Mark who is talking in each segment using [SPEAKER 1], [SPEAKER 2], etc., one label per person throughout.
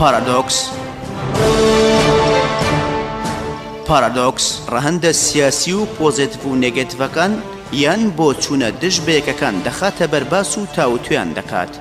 [SPEAKER 1] پارادۆکس پارادۆکس ڕەهندە سیاسی و پۆزێتیف و نێگەتیڤەکان یان بۆ چوونە دژ بەیەکەکان دەخاتە بەرباس و تاوتویان دەکات.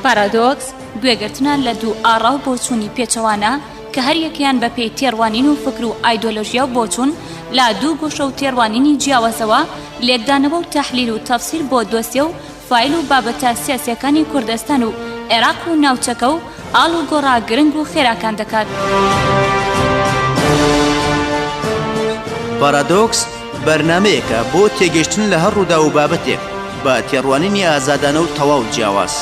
[SPEAKER 2] پارادۆکس گوێگرتنە لە دوو ئاڕا و بۆچوونی پێچەوانە کە هەریەکەیان بە پێی تێڕوانین و فکر و ئایدۆلۆژیا و بۆچوون لە دوو گۆشە و تێڕوانینی جیاوازەوە لێکدانەوە و تەحلیل و تەفسیر بۆ دۆسیە و فایل و بابەتە سیاسییەکانی کوردستان و عێراق و ناوچەکە و ئاڵ و گۆڕا گرنگ و خێراکان دەکات.
[SPEAKER 1] پارادۆکس، بەرنامەیەکە بۆ تێگەیشتن لە هەر ڕووداو و بابەتێک، بە تێڕوانینی ئازادانە و تەواو جیاواز.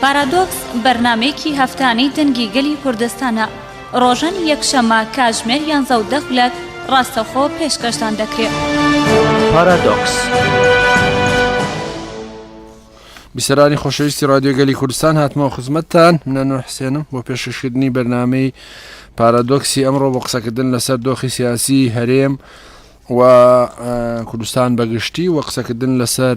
[SPEAKER 2] پارادۆکس، بەرنامەیەکی هەفتانەی دەنگی گەلی کوردستانە، ڕۆژانی یەکشەممە کاتژمێر یانزە و دە خولەک ڕاستەوخۆ پێشکەشتان دەکرێت. پارادۆکس.
[SPEAKER 3] بیسەرانی خۆشەویستی رادیۆ گەلی کوردستان هاتمەوە خزمەتتان منەنۆ حسێنم بۆ پێشکەشکردنی بەرنمەی پارادۆکسی ئەمڕۆ بۆ قسەکردن لەسەر دۆخی سیاسی هەرێم و کوردستان بەگشتی و قسەکردن لەسەر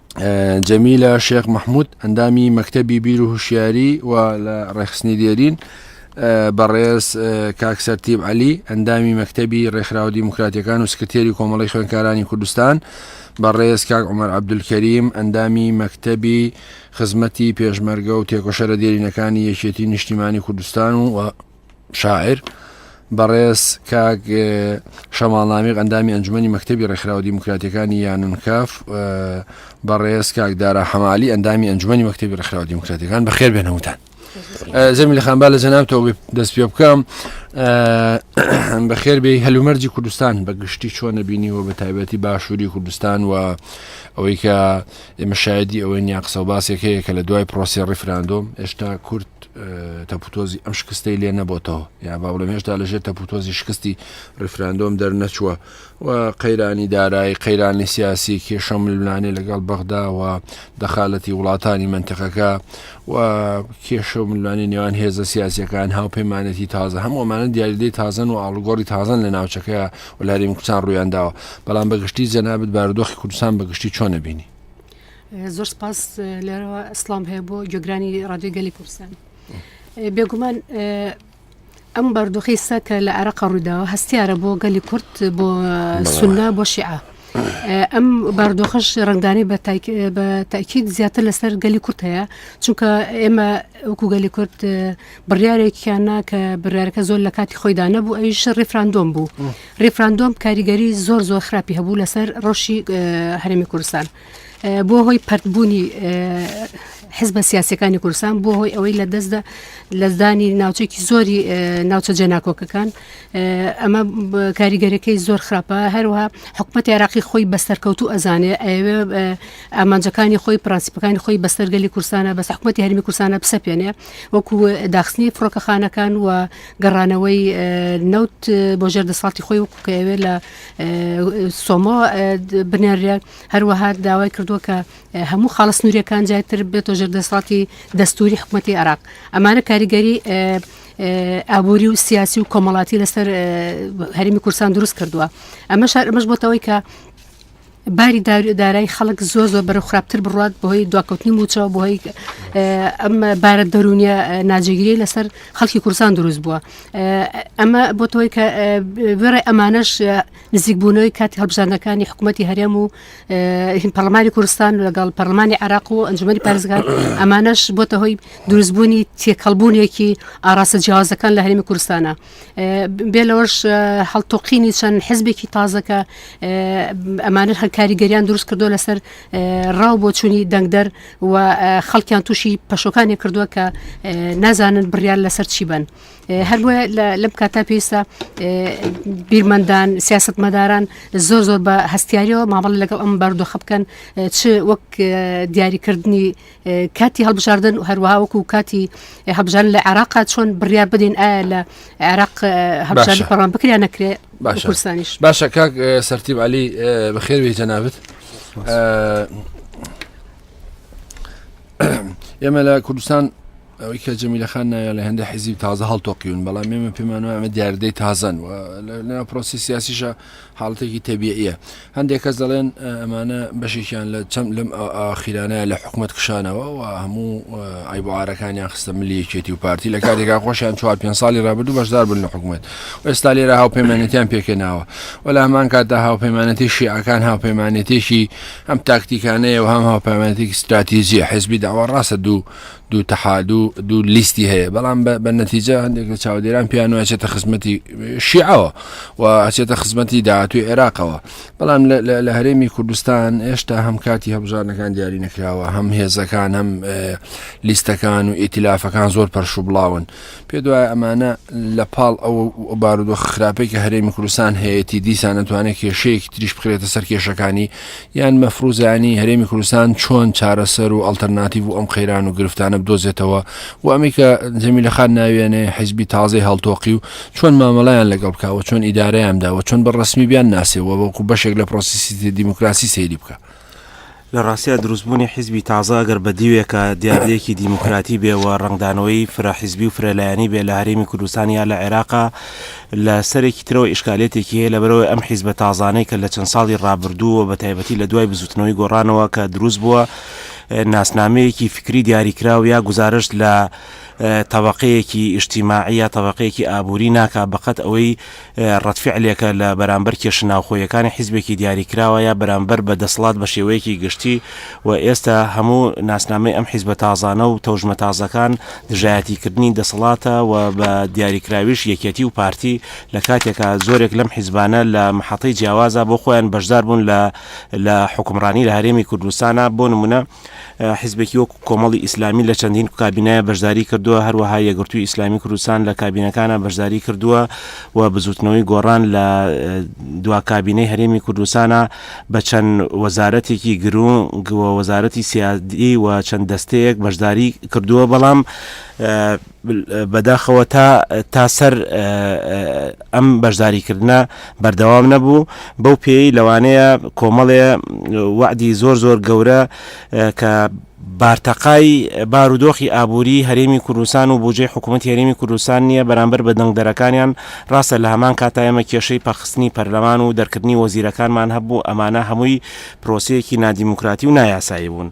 [SPEAKER 3] جەمیلە شێخ مححمود ئەندامی مەکتتەبی بیر و هوشیاری و لە ڕێخستنی دێرین بەڕێز کاکسەرتیب علی ئەندامی مەکتتەبی ڕێکخراوە دیموکراتەکان و سکرتێری کۆمەڵی خوێنکارانی کوردستان بەڕێز کاک عمر عبدولکەریم ئەندامی مەکتتەبی خزمەتی پێشمەرگە و تێکۆشەرە دێرینەکانی یەکێتی نیشتیمانی کوردستان و شاعر بەڕێز کاک شەماڵنامیق ئەندامی ئەنجومی مەکتتەبی ڕێکخراوە دیموکراتەکانی یانونکاف بەڕێز کاک دارا حەمالی ئەندامی ئەنجومی مەکتتەبی ڕێکخراوە دیموکراتەکان بەخێر بێنەوتان زەمی لە خانبا لە جەنابتەوە دەست پێ بکەم بەخێر بێ هەلومەرجی کوردستان بە گشتی چۆنە بینیوە بە تایبەتی باشووری کوردستان و ئەوەی کە ئێمە شایدی ئەوەی نیان قسە و باسێک هەیە کە لە دوای پرۆسی ڕیفراندۆم هێشتا کورد تەپوتۆزی ئەم شکستەی لێ نەبتەوە یا با بڵێ هێشتا لەژێ تەپوتۆزی شکستی ڕیفراندۆم دەرنەچووە و قەیرانی دارایی قەیرانی سیاسی کێشە ململانێ لەگەڵ بەغداوە دەخالەتی وڵاتانی منتەقەکە و کێشە و ملمانی نێوان هێزە سیاسەکان هاوپەیمانەتی تازە هەموومانە دیاریدەی تازن و ئاڵگۆری تازن لە ناوچەکە وەلا هەرێمی کوردستان ڕوویان داوە بەڵام بە گشتی جەنابت بارودۆخی کوردستان بە گشتی چۆن نەبینی زۆر
[SPEAKER 4] سپاس لەرەوە ئەسلام هەیە بۆ گۆگرانی ڕادیۆی گەلی کوردستان بێگومان ئەم بەردۆخی سا کە لە عراق ڕووداوە هەستیارە بۆ گەلی کورد بۆ سنە بۆ شیعە ئەم باردۆخش ڕنگدانی بە تاکیید زیاتر لەسەر گەلی کورت هەیە چونکە ئێمە وەکو گەلی کورت بڕیارێکیان نا کە بڕارەکە زۆر لە کاتی خۆیدا نەبوو ئەویش ڕیفراندۆم بوو ڕیفراندۆم کاریگەری زۆر زۆر خراپی هەبوو لەسەر ڕۆشی هەرمی کوردستان بۆ هۆی پرتبوونی حزبە سیاسەکانی کورسان بۆ هۆی ئەوەی لە دەستدا لەزدانی ناوچێکی زۆری ناوچە جێناکۆکەکان ئەمە کاریگەرەکەی زۆر خراپە هەروها حکوومەت عێراقی خۆی بەسەرکەوتو ئەزانێ ئەوێ ئامانجەکانی خۆی پرانسیپەکانی خۆی بەسەرگەلی کورسانە بەس حکوومەتتی هەرمی کورسانە بسەپێنێ وەکو داخستنی فڕۆکەخانەکان و گەڕانەوەی نەوت بۆ ژێر دەسەڵاتی خۆی وەکو کە ئەوێ لە سۆمۆ بنێرێ هەروەها داوای کردووە کە هەموو خاڵە سنووریەکان جاتر بێتۆ ژێر دەسەڵاتی دەستوری حکوومەتی عراق ئەمانە کاریگەری ئابووری و سیاسی و کۆمەڵاتی لەسەر هەرمی کورسان دروست کردووە ئەمە شار ئەمەش بۆتەوەی کە باری دارای خەڵک زۆر زۆر بەرە خراپتر بڕات بۆی دواکەوتنی موچەوە بۆی ئەم بارە دەرونیە ناجێگیری لەسەر خەڵکی کورسان دروست بووە ئەمە بۆتەوەی کە بێڕێ ئەمانەش نزیکبوونەوەی کاتی هەڵبژاندەکانی حکوومەتتی هەرێم و پەرلمانی کوردستان لەگەڵ پەرلمانی عراق و ئەنجومی پارێزگار ئەمانەش بۆتە هۆی دروستبوونی تێکەڵبوونێکی ئاراستە جیازەکان لە هەرمی کوردستانە بێ لەوەش هەڵتۆقینی چەند حزبێکی تازەکە ئەمانە هەکاریگەریان دروست کردو لەسەر ڕاو بۆ چووی دەنگدەر و خەڵکیان تووشی پەشۆکانی کردووە کە نازانن بڕیان لەسەر چی بن هەروە لەم کاتا پێویستە بیرمەندان سیاست مەداران زۆر زۆر بە هەستیاریەوە مامەڵ لەگەڵ ئەم بەردۆخە بکەن چ وەک دیاریکردنی کاتی هەڵبژاردن و هەروەها وەکو کاتی هەبژان لە عراقا چۆن بڕیار بدەین ئایا لە عراق هەبژانی پەڕان بکریان نەکرێ
[SPEAKER 3] باشستانیش باشە
[SPEAKER 4] کاک
[SPEAKER 3] سەرتیب علی بەخێوی جەنابەت ئێمە لە کوردستان ئەوەی کە جەمیلە خان ناویان لە هێندە حیزیب تازە هەڵتۆقیون بەڵام ئێمە پێمان وایە ئەمە دیاردەی تازەن و لە لە پرۆسی سیاسیشە حاڵەتێکی تەبیعیە هەندێک کەس دەڵێن ئە، ئەمانە بەشێکیان لە چەم لەم ئا- ئاخیرانەیە لە حکومەت کشانەوە و هەموو ئە، عیب و عارەکانیان خستە ملی یەکێتی و پارتی لە کاتێکا خۆشیان چوار پێنج ساڵی رابردوو بەشدار بوون لە حکومەت و ئێستا لێرە هاوپەیمانێتیان پێکهێناوە و لە هەمان کاتدا هاوپەیمانێتی شیعەکان هاوپەیمانێتیەکی هەم تاکتیکانەیە و هەم هاوپەیمانێتیەکی ستراتیجیە حزبی داوا راستە دوو دوو تەحادو دوو لیستی هەیە بەڵام بە نەتیجە هەندێک لە چاودێران پیان و ئەچێتە خزمەتی شیعەوە و ئەچێتە خزمەتی داهاتوی عێراقەوە بەڵام لە هەرێمی کوردستان هێشتا هەم کاتی هەبژارنەکان دیاری نەکراوە هەم هێزەکان هەم لیستەکان و ئیتلافەکان زۆر پەرش و بڵاون پێتوایە ئەمانە لە پاڵ ئەوە بارودۆخ خراپەی کە هەرێمی کوردستان هەیەتی دیسان نەتوانێت کێشەیەکی تریش بخرێتە سەر کێشەکانی یان مەفروزانی هەرێمی کوردستان چۆن چارەسەر و ئەلتەرناتیڤ و ئەم قەیران و گرفتانە بدۆزێتەوە و ئەمی کە جەمی لە خان ناوێنێ حیزبی تازەی هەڵتۆقی و چۆن مامەڵیان لەگەڵ بکەوە چۆن ئیدارەیان داوە چۆن بە ڕسمی بیان ناسێەوە وەکو بەشێک لە پرۆسیسی دیموکراسی سەیری بکە. لە ڕاستیا
[SPEAKER 5] دروستبوونی حیزبی تازە ئەگەر بە دیوێکە دیاردەیەکی دیموکراتی بێ و ڕەنگدانەوەی فرە حیزبی و فرە لایەنی بێ لە هەرێمی کوردستان یا لە عێراقا لە سەرێکی ترەوە ئیشکالێتێکی هەیە لەبەرئەوەی ئەم حیزبە تازانەی کە لە چەند ساڵی ڕابردوو و بە تایبەتی لە دوای بزووتنەوەی گۆڕانەوە کە دروست بووە ناسنامەیەکی فکری دیاریکراو یا گوزارشت لە تەبەقەیەکی ئیژتیماعی یا تەبەقەیەکی ئابووری ناکا بە قەد ئەوەی ڕەدفیعلێکە لە بەرامبەر کێشە ناوخۆییەکانی حیزبێکی دیاریکراوە یا بەرامبەر بە دەسڵات بە شێوەیەکی گشتی و ئێستا هەموو ناسنامەی ئەم حیزبە تازانە و تەوژمە تازەکان دژایەتیکردنی دەسەڵاتە و بە دیاریکراویش یەکێتی و پارتی لە کاتێکا زۆرێک لەم حیزبانە لە محەتەی جیاوازا بۆ خۆیان بەشداربوون لە لە حوکمڕانی لە هەرێمی کوردستانا بۆ نموونە حیزبێکی وەک کۆمەڵی ئیسلامی لە چەندین کابینەیا بەشداری کردووە، هەروەها یەکگرتووی ئیسلامی کوردستان لە کابینەکانا بەشداری کردووە و بزووتنەوەی گۆڕان لە دوا کابینەی هەرێمی کوردستانا بە چەند وەزارەتێکی گرنگ و وەزارەتی سیادی و چەند دەستەیەک بەشداری کردووە، بەڵام بەداخەوە تا تا سەر ئەم بەشداریکردە بەردەوام نەبوو بەو پێی لەوانەیە کۆمەڵێ وعدی زۆر زۆر گەورە کە بارتەقای بارودۆخی ئابووری هەرێمی کوردستان و بودجەی حکوومەت هەرێمی کوردستان نییە بەرامبەر بە دەنگدەرەکانیان ڕاستە لە هەمان کاتا ئێمە کێشەی پەخستنی پەرلەمان و دەرکردنی وەزیرەکانمان هەبوو ئەمانە هەمووی پرۆسەیەکی نادیموکراتی و نایاسایی بوون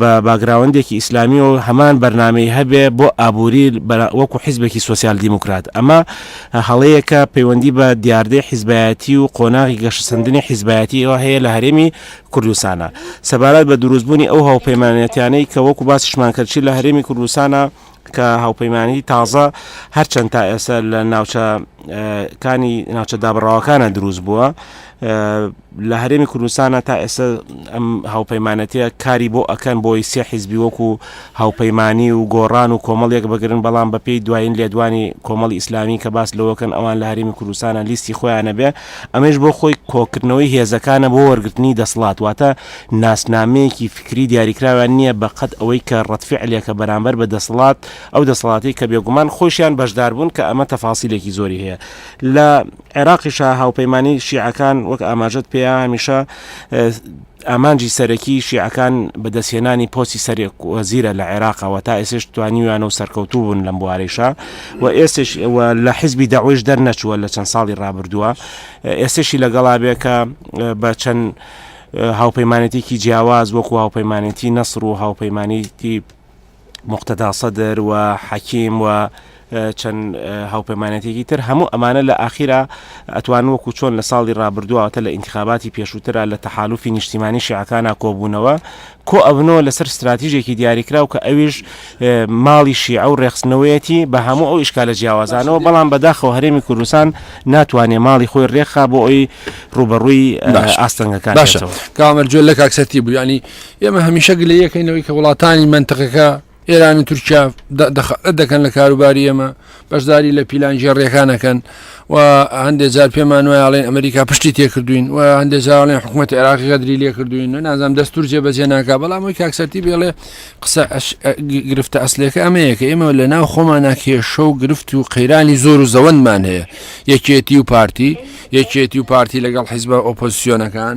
[SPEAKER 5] بە باگراوەندێکی ئیسلامی و هەمان بەرنامەی هەبێ بۆ ئابووری وەکو حیزبێکی سوسیال دیموکرات ئەمە هەڵەیەکە پەیوەندی بە دیاردەی حیزبایەتی و قۆناغی گەشەسەندنی حیزبایەتی ئەوە هەیە لە هەرێمی کوردستانە سەبارەت بە دروستبوونی ئەو هاوپەیمانەتیانەی کە وەکو باسیشمان کردچی لە هەرێمی کوردستانە کە هاوپەیمانانی تازە هەرچەند تا ئێستا لە ناوچە کانی ناوچە دابڕاوەکانە دروست بووە لە هەرێمی کوردستانە تا ئێستا ئەم هاوپەیمانەتە کاری بۆ ئەکەن بۆی سێ حیزبی وەکو هاوپەیمانانی و گۆڕان و کۆمەڵێک بگرن بەڵام بەپی دوایین لێدوانی کۆمەڵی ئیسلامی کە باس لەوەکەن ئەوان لە هەرمی کوردستانە لیستی خۆیانە بێ ئەمەیش بۆ خۆی کۆکردنەوەی هێزەکانە بۆ وەرگرتنی دەسڵات، واتە ناسنامەیەکی فیکری دیاریکراویان نییە بە قەد ئەوەی کە ڕەدفیعلێکە بەرامبەر بە دەسڵات، ئەو دەسەڵاتەی کە بێگومان خۆیشیان بەشداربوون کە ئەمە تەفاسیلێکی زۆری هەیە لە عێراقیشا هاوپەیمانی شیعەکان وەک ئاماژەت پێیە هەمیشە ئامانجی سەرەکیی شیعەکان بەدەستهێنانی پۆستی سەرۆک وەزیرە لە عێراق و تا ئێستێش توانیویانە و سەرکەوتوو بوون لەم بوارەیشا و ئێستێش و لە حیزبی دەعوەیش دەرنەچووە لە چەند ساڵی ڕابردووە ئێستێشی لەگەڵا بێ کە بە چەند هاوپەیمانێتییەکی جیاواز وەکوو هاوپەیمانێتیی نەسڕ و هاوپەیمانێتیی موقتەدا سەدر و حەکیم و چەند هاوپەیمانەتێکی تر هەموو ئەمانە لە ئاخیرا ئەتوان وەکو چۆن لە ساڵی ڕابردووەتە لە ئینتخاباتی پێشووترا لە تەحالوفی نیشتیمانی شیعەکانە کۆبوونەوە کۆ ئەبنەوە لەسەر استراتیژێکی دیاریکراو کە ئەویش ماڵی شیعە و ڕێخستنەوەیەتی بە هەموو ئەو ئیشکالە جیاوازانەوە بەڵام بەداخەوە هەرێمی کوردستان ناتوانێت ماڵی خۆی ڕێکخا بۆ ئەوی ڕوبەڕووی ئاستەنگەکان باشە کامەرجوێل
[SPEAKER 3] لە کاکسەتی بوو ینی ئێمە هەمیشە گلەیەکەینەوەی کە وڵاتانی منتقەکە ئێران و تورکیا دەکەن لە کاروباری ئێمە بەشداری لە پیلان ژێڕێکانەکەن و هەندێک جار پێمان وایاڵێن ئەمریکا پشتی تێکردوین و هەندێک جاڵێن حکوومەت عێراقی غەدری لێکردوین و نازانام دەستور جێ بەجێ ناکە بەڵام وی کاکسەتی بێڵێ قسە گرفتە ئەسلەکە ئەمەیە کە ئێمە لە ناو خۆمانە کێشە و گرفت و قەیرانی زۆر و زەوەندمان هەیە یەکێتی و پارتی یەکێتی و پارتی لەگەڵ حیزبە ئۆپۆزیسیۆنەکان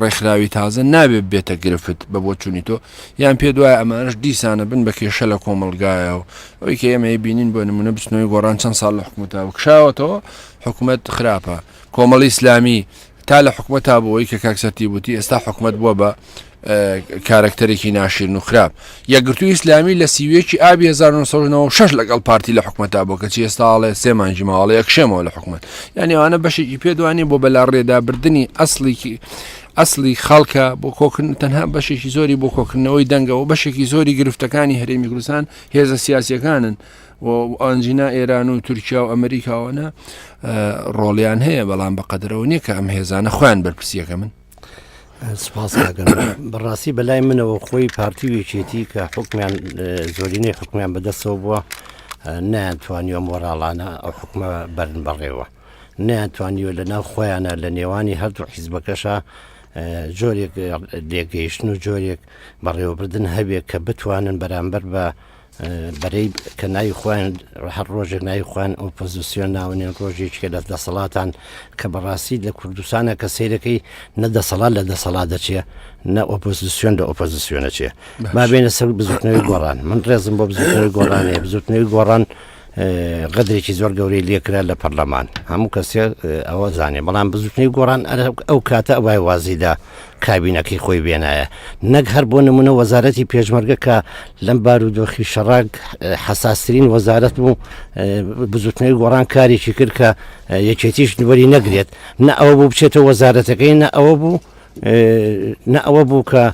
[SPEAKER 3] ڕێکخراوی تازە نابێت بێتە گرفت بە بۆ چوونی تۆ یان پێ دوای ئەمانش دیسانە بن بە کێشە لە کۆمەلگایە و ئەوی کە ئێمە بینین بۆ نمونە بچنەوەی گۆڕان چەند ساڵ لە حکوومەتە و کشاوەتەوە حکوومەت خراپە کۆمەڵی ئیسلامی تا لە حکوومەت تا بۆەوەی کە کاکسەتی وتی ئێستا حکوومەت بووە بە کارەکتەرێکی ناشرین و خراپ یەکگرتوو ئیسلامی لە سیویەکی ئابی 1996 لەگەڵ پارتی لە حکومەتا بۆ کەچی ئێستاڵێ سێمانجی ماوەڵی ئەکشێمەوە لە حکومت یعنی ئەوانە بەشێکی پێدوانی بۆ بەلا ڕێدابردننی ئەسڵیکی ئەسلی خەڵکە بۆ کۆکردن تەنها بەشێکی زۆری بۆ کۆکردنەوەی دەنگەوە بەشێکی زۆری گرفتەکانی هەرێمی کوردستان هێزە سیاسەکانن ئەنجینا ئێران و تورکیا و ئەمریکاوەە ڕۆڵیان هەیە بەڵام بە قەدرەوە نییە کە ئەم هێزانە خۆیان بەرپسیەکە من سپاس
[SPEAKER 6] کاکەم بەڕاستی بەلای منەوە خۆی پارتی و یەکێتی کە حکمیان زۆرینەی حکمیان بەدەستەوە بووە نەیانتوانی ئەم وەراڵانە ئەو حکومە بەرن بەڕێوە نەیانتوانیوە لە ناو خۆیانە لە نێوانی هەردوو حیزبەکەشە جۆرێک لێگەیشتن و جۆرێک بەڕێوەبردن هەبێت کە بتوانن بەرامبەر بە بەرەی کە ناوی خۆیان هەر ڕۆژێک ناوی خۆیان ئۆپۆزیسیۆن ناونێن ڕۆژێکێ لە دەسەڵاتان کە بەڕاستی لە کوردستانە کە سیرەکەی نە دەسەڵات لە دەسەڵات دەچێ نە ئۆپۆزیسیۆن لە ئۆپۆزیسیۆنە چێ ما بێنە سەر بزوتنەوەی گۆڕان من ڕێزم بۆ بزوتنەوەی گۆڕانێ بزوتنەوەی گۆڕان غەدرێکی زۆر گەورەی لێکرا لە پەرلەمان هەموو کەسێ ئەوە زانێ بەڵام بزوتنی گۆڕان ئەو کاتە ئەوای وازیدا کابینەکەی خۆی بێنایە نەک هەر بۆ نمونە وەزارەتی پێشمەرگە کە لەم بارودۆخی شەڕاک حساسترین وەزارەت بوو بزوتنەوەی گۆڕان کارێکی کرد کە یەکێتیش نوەری نەگرێت نە ئەوە بوو بچێتە وەزارەتەکەی نە ئەوە بوو نە ئەوە بوو کە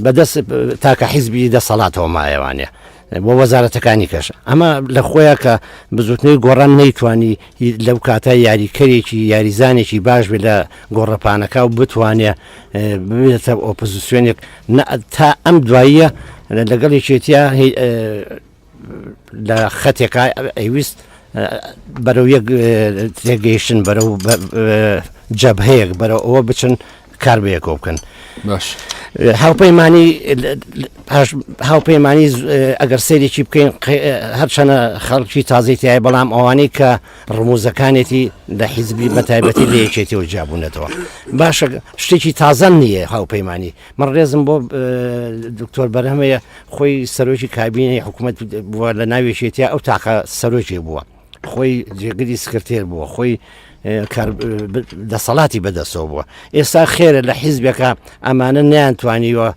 [SPEAKER 6] بەدەست تاکە حیزبی دەسەڵاتەوە مایەوانە بۆ وەزارەتەکانی کەش ئەمە لە خۆیە کە بزوتنەوەی گۆڕان نەیتوانی لەو کاتە یاریکەرێکی یاریزانێکی باش بێت لە گۆڕەپانەکە و بتوانێت بێتە ئۆپۆزیسیۆنێک تا ئەم دواییە لەگەڵ یەکێتیا لە خەتێکا ئەیویست بەرەو یەک تێگەیشتن بەرە جەبهەیەک بەرە ئەوە بچن کار بەیەکەوە بکەن باش
[SPEAKER 3] هاوپەیمانی
[SPEAKER 6] هاوپەیمانی ئەگەر سەیرێکی بکەین هەرچەنە خەڵکی تازەی تای بەڵام ئەوانەی کە ڕموزەکانێتی لە حیزبی بەتایبەتی لە یەکێتی و جیابوونەتەوە باشە شتێکی تازەم نییە هاوپەیمانی من ڕێزم بۆ دکتۆر بەرهەمەیە خۆی سەرۆکی کابینی حکوومەت بووە لە ناوێکێتیا ئەو تاقە سەرۆکی بووە خۆی جێگری سکرتێر بووە خۆی دەسەڵاتی بەدەسەوە بووە ئێستا خێرە لە حیزبێکە ئەمانە نیان توانیوە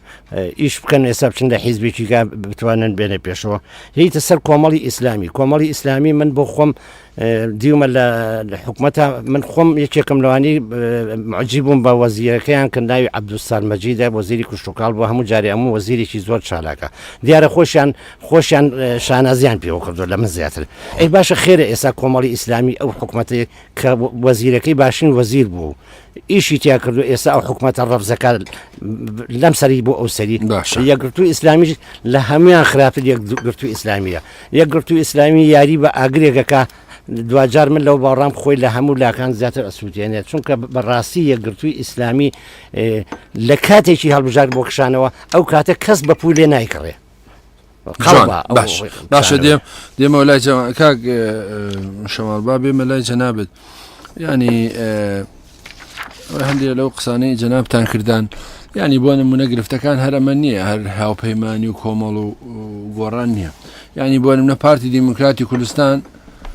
[SPEAKER 6] ئیش بکەن ئێستا بچن لە حیزبێکیگا بتوانن بێنە پێشەوە هیتە سەر کۆمەڵی ئیسلامی کۆمەڵی ئیسلامی من بۆ خۆم دیومە لە حکوومەتە من خۆم یەکێکم لەوانی معجی بووم بە وەزیرەکەیان کە ناوی عبدوستان مەجیدا وەزیری کوشتتوکال بۆ هەموو جارێ هەموو وەزیرێکی زۆر چالاکە دیارە خۆشیان خۆشیان شانازیان پێوە کردوە لە من زیاتر ئەی باشە خێرە ئێستا کۆمەڵی ئیسلامی ئەو حکوومەتەیە کە وەزیرەکەی باشین وەزیر بوو ئیشی تیا کردو ئێستا ئەو حکوومەتە ڕەفزەکان لەم سەری بۆ ئەو سەری باشە یەکگرتو ئیسلامیش لە هەمویان خراپتر یەکگرتو ئیسلامیە یەکگرتو ئیسلامی یاری بە ئاگرێکەکە دواجار من لەو باڕام خۆی لە هەموو لاکان زیاتر ئەسووتێنێت چونکە بەڕاستی یەکگرتووی ئیسلامی لە کاتێکی هەڵبژار بۆ کشانەوە ئەو کاتە کەس بە پولی نایکڕێ باش
[SPEAKER 3] باشە دێم دێمەوە لای کاک شەماڵ با بێمە لای جەنابێت ینی هەندێک لەو قسانەی جەنابتان کردان ینی بۆ نمونە گرفتەکان هەرەمە نییە هەر هاوپەیمانانی و کۆمەڵ و گۆڕان نییە ینی بۆ نمونە پارتی دیموکراتی کوردستان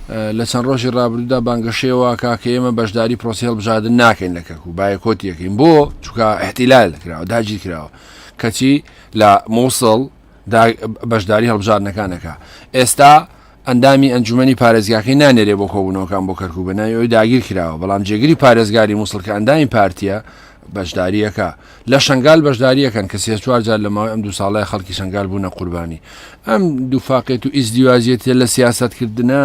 [SPEAKER 3] لە چەند ڕۆژی ڕابردودا بانگەشەوە کاکە ئێمە بەشداری پرۆسیل بژادن ناکەین لە کەک و بایکۆت یەکەین بۆ چکە احتیلال کراوە داگیر کراوە کەچی لە موسڵ دا بەشداری هەڵبژاردنەکان دەکا. ئێستا ئەندامی ئەنجومەنی پارێزگاکەی نانێرێ بۆ کۆبوونەوەکان بۆ کەرکوک بە ناوی ئەوی داگیر کراوە، بەڵام جێگری پارێزگاری موسڵ کە ئەندامی پارتییە بەشداری ئەکا. لە شەنگال بەشداری ئەکەن کە سێ چوار جار لە ماوەی ئەم دوو ساڵەیا خەڵکی شەنگال بوونە قوربانی ئەم دووفاقێت و ئیزدیواجیەتیە لە سیاسەتکردنا،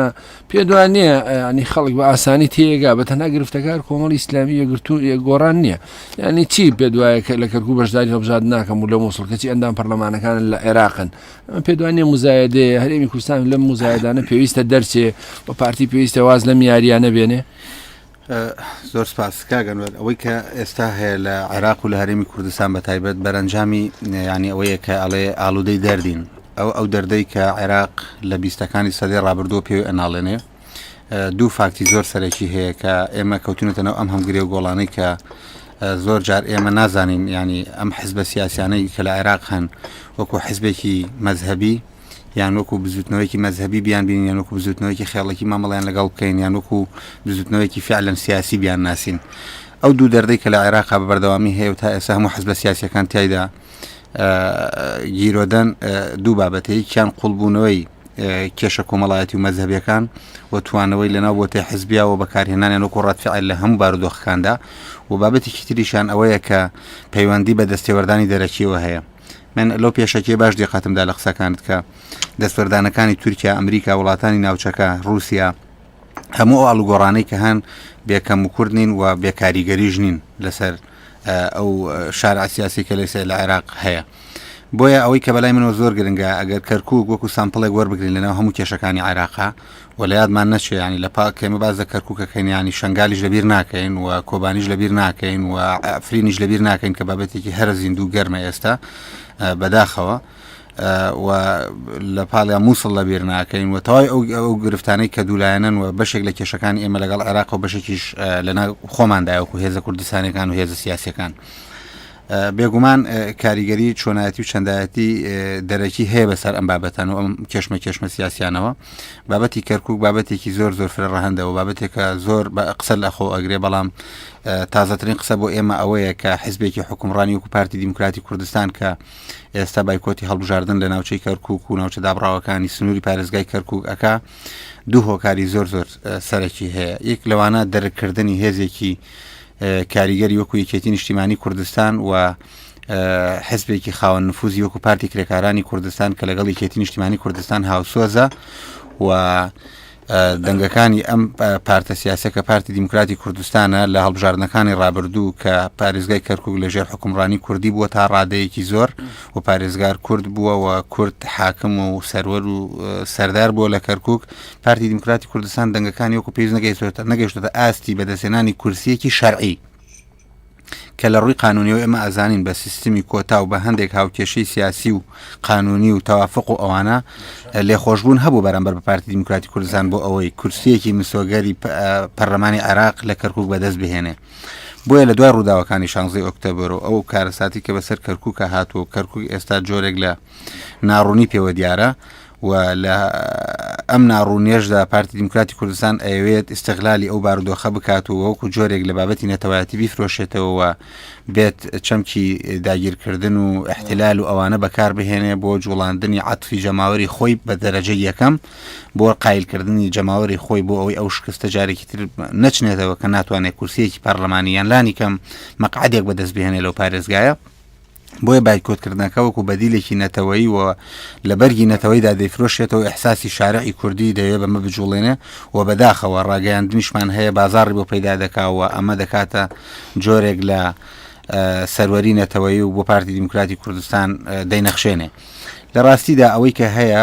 [SPEAKER 3] پێت وا نییە ینی خەڵک بە ئاسانی تێگا بە تەنها گرفتەکار کۆمەڵی ئیسلامی یەگرتو گۆڕان نییە ینی چی پێ دوایە کە لە کەرکو بەشداری هەبژاد ناکەم و لە مووسڵ کەچی ئەندام پەرلەمانەکان لە عێراقن ئەمە پێدوانێ مزایدێ هەرێمی کوردستان لەم مزایدانە پێویستە دەرچێ و پارتی پێویستە واز لەم یاریانە بێنێ
[SPEAKER 7] زۆر سپاس کاک ئەنوەر، ئەوەی کە ئێستا هەیە لە عێراق و لە هەرێمی کوردستان بە تایبەت بەرەنجامی یانی ئەوەیە کە ئەڵێ ئالوودەی دەردین ئەو ئەو دەردەی کە عێراق لە بیستەکانی سەدەی ڕابردووە پێوی ئەناڵێنێ دوو فاکتی زۆر سەرەکی هەیە کە ئێمە کەوتونەتەنەوە ئەم هەمگرێ و گۆڵانەی کە زۆر جار ئێمە نازانین ینی ئەم حزبە سیاسیانەی کە لە عێراق هەن وەکو حزبێکی مەذهبی یان وەکو بزوتنەوەیەکی مەزهەبی بیان بینین یان وەکو بزوتنەوەیەکی خێڵێکی مامەڵیان لەگەڵ بکەین یان وەکو بزوتنەوەیەکی فعلەن سیاسی بیان ناسین ئەو دوو دەردەی کە لە عێراق بە بەردەوامی هەیە و تا ئێستا هەموو حزبە سیاسەکان تایدا گیرۆدەن دوو بابەتەیەکیان قوڵبوونەوەی کێشە کۆمەڵایەتی و مەذهبیەکان و توانەوەی لەناو بۆ تای حزبیا و بەکارهێنانیان وەکو ڕاتفعل لە هەموو بارودۆخەکاندا و بابەتێکی تریشان ئەوەیە کە پەیوەندی بە دەستێوەردانی دەرەکیەوە هەیە من لەو پێشەکیە باش دیقەتم دا لە قسەکانت کە دەستوەردانەکانی تورکیا ئەمریکا وڵاتانی ناوچەکە رووسیا هەموو ئەو ئاڵوگۆڕانەی کە هەن بێکەم و کورد نین و بێکاریگەریش نین لەسەر ئەو شار ئاسیاسی کە لەسێ لە عێراق هەیە. بۆیە ئەوەی کە بەلای منەوە زۆر گرنگە ئەگەر کەرکک وەکو سامپلێک وەربگرین لەناو هەموو کێشەکانی عراقا و لەیادمان نەچێ یانی لە پا کەێمە باس لە کەرکوک ئەکەین یانی شەنگالیش لەبیر ناکەین و کۆبانیش لەبیر ناکەین و ئەفرینیش لەبیر ناکەین کە بابەتێکی هەرە زیندوو گەرمە ئێستا بەداخەوە و لە پاڵیا مووسڵ لەبیر ناکەین و تەوای ئەو ئەو گرفتانەی کە دوولایەنەن و بەشێک لە کێشەکانی ئێمە لەگەڵ عێراق و بەشێکیش لەنا خۆماندایوەکو هێزە کوردستانەکان و هێزە سیاسەکان. بێگومان کاریگەری چۆنایەتی و چەندایەتی دەرەکی هەیە بەسەر ئەم بابەتان و ئەم کێشمە کێشمە سیاسیانەوە بابەتی کەرکک بابەتێکی زۆر زۆر فرە ڕەهندەوە بابەتێکە زۆر بە قسە لە خۆ ئەگرێ بەڵام تازەترین قسە بۆ ئێمە ئەوەیە کە حزبێکی حکومڕانی وکو پارتی دیموکراتی کوردستان کە ئێستا بایکۆتی هەڵبژاردن لە ناوچەی کەرکک و ناوچە دابڕاوەکانی سنووری پارێزگای کەرکک ئەک دوو هۆکاری زۆر زۆر سەرەکی هەیە یەک لەوانە دەرکردنی هێزێکی کاریگەری وەکو یەکێتی نیشتیمانی کوردستان و حزبێکی خاوەن نفوزی وەکو پارتی کرێکارانی کوردستان کە لەگەڵ یەکێتی نیشتیمانی کوردستان هاوسۆزە و دەنگەکانی ئەم پارتە سیاسە کە پارتی دیموکراتی کوردستانە لە هەڵبژاردنەکانی ڕابردوو کە پارێزگای کەرکک لە ژێر حکومڕانی کوردی بووە تا ڕادەیەکی زۆر و پارێزگار کورد بووە و کورد حاکم و سەروەر و سەردار بووە لە کەرکک پارتی دیموکراتی کوردستان دەنگەکانی وەکو پێویست نەگەیشتوێتە نەگەیشتوێتە ئاستی بەدەستێنانی کورسیەکی شەرعی کە لە ڕووی قانونیەوە ئێمە ئازانین بە سیستمی کۆتا و بە هەندێک هاوکێشەی سیاسی و قانونی و تەوافق و ئەوانە لێخۆشببوون هەبوو بەرەمبەر بە پارتی دیموکراتی کوردستان بۆ ئەوەی کورسیەکی مسۆگەری پەرلەمانی عراق لە کەرکک بەدەست بهێنێ بۆیە لە دوای ڕووداوەکانی شانزی ئۆکتەبەر و ئەو کارەساتی کە بەسەر کەرککە هاتووە کەرکک ئێستا جۆرێک لە ناڕوونی پێوە دیارە و لە ئەم ناڕوونیەشدا پارتی دیموکراتی کوردستان ئەیەوێت ئیستغلالی ئەو بارودۆخە بکات و وەکو جۆرێک لە بابەتی نەتەوایەتی بیفرۆشێتەوە بێت چەمکی داگیرکردن و احتلال و ئەوانە بەکار بهێنێ بۆ جوڵاندنی عاتفی جەماوەری خۆی بە دەرەجە یەکەم بۆ قایلکردنی جەماوەری خۆی بۆ ئەوەی ئەو شکستە جارێکی تر نەچنێتەوە کە ناتوانێت کورسیەکی پەرلەمانیان لانی کەم مەقعدێک بەدەست بهێنێ لەو پارێزگایە بۆیە بایکۆتکردنەکە وەکو بەدیلێکی نەتەوەی و لە بەرگی نەتەوەیدا دەیفرۆشێتەوە ئەحساسی شارعی کوردی دەوێ بەمە بجوڵێنێ و بەداخەوە ڕاگەیاندنیشمان هەیە بازاڕی بۆ پەیدا دەکاوە ئەمە دەکاتە جۆرێک لە سەروەری نەتەوەی و بۆ پارتی دیموکراتی کوردستان دەینەخشێنێ لە ڕاستیدا ئەوەی کە هەیە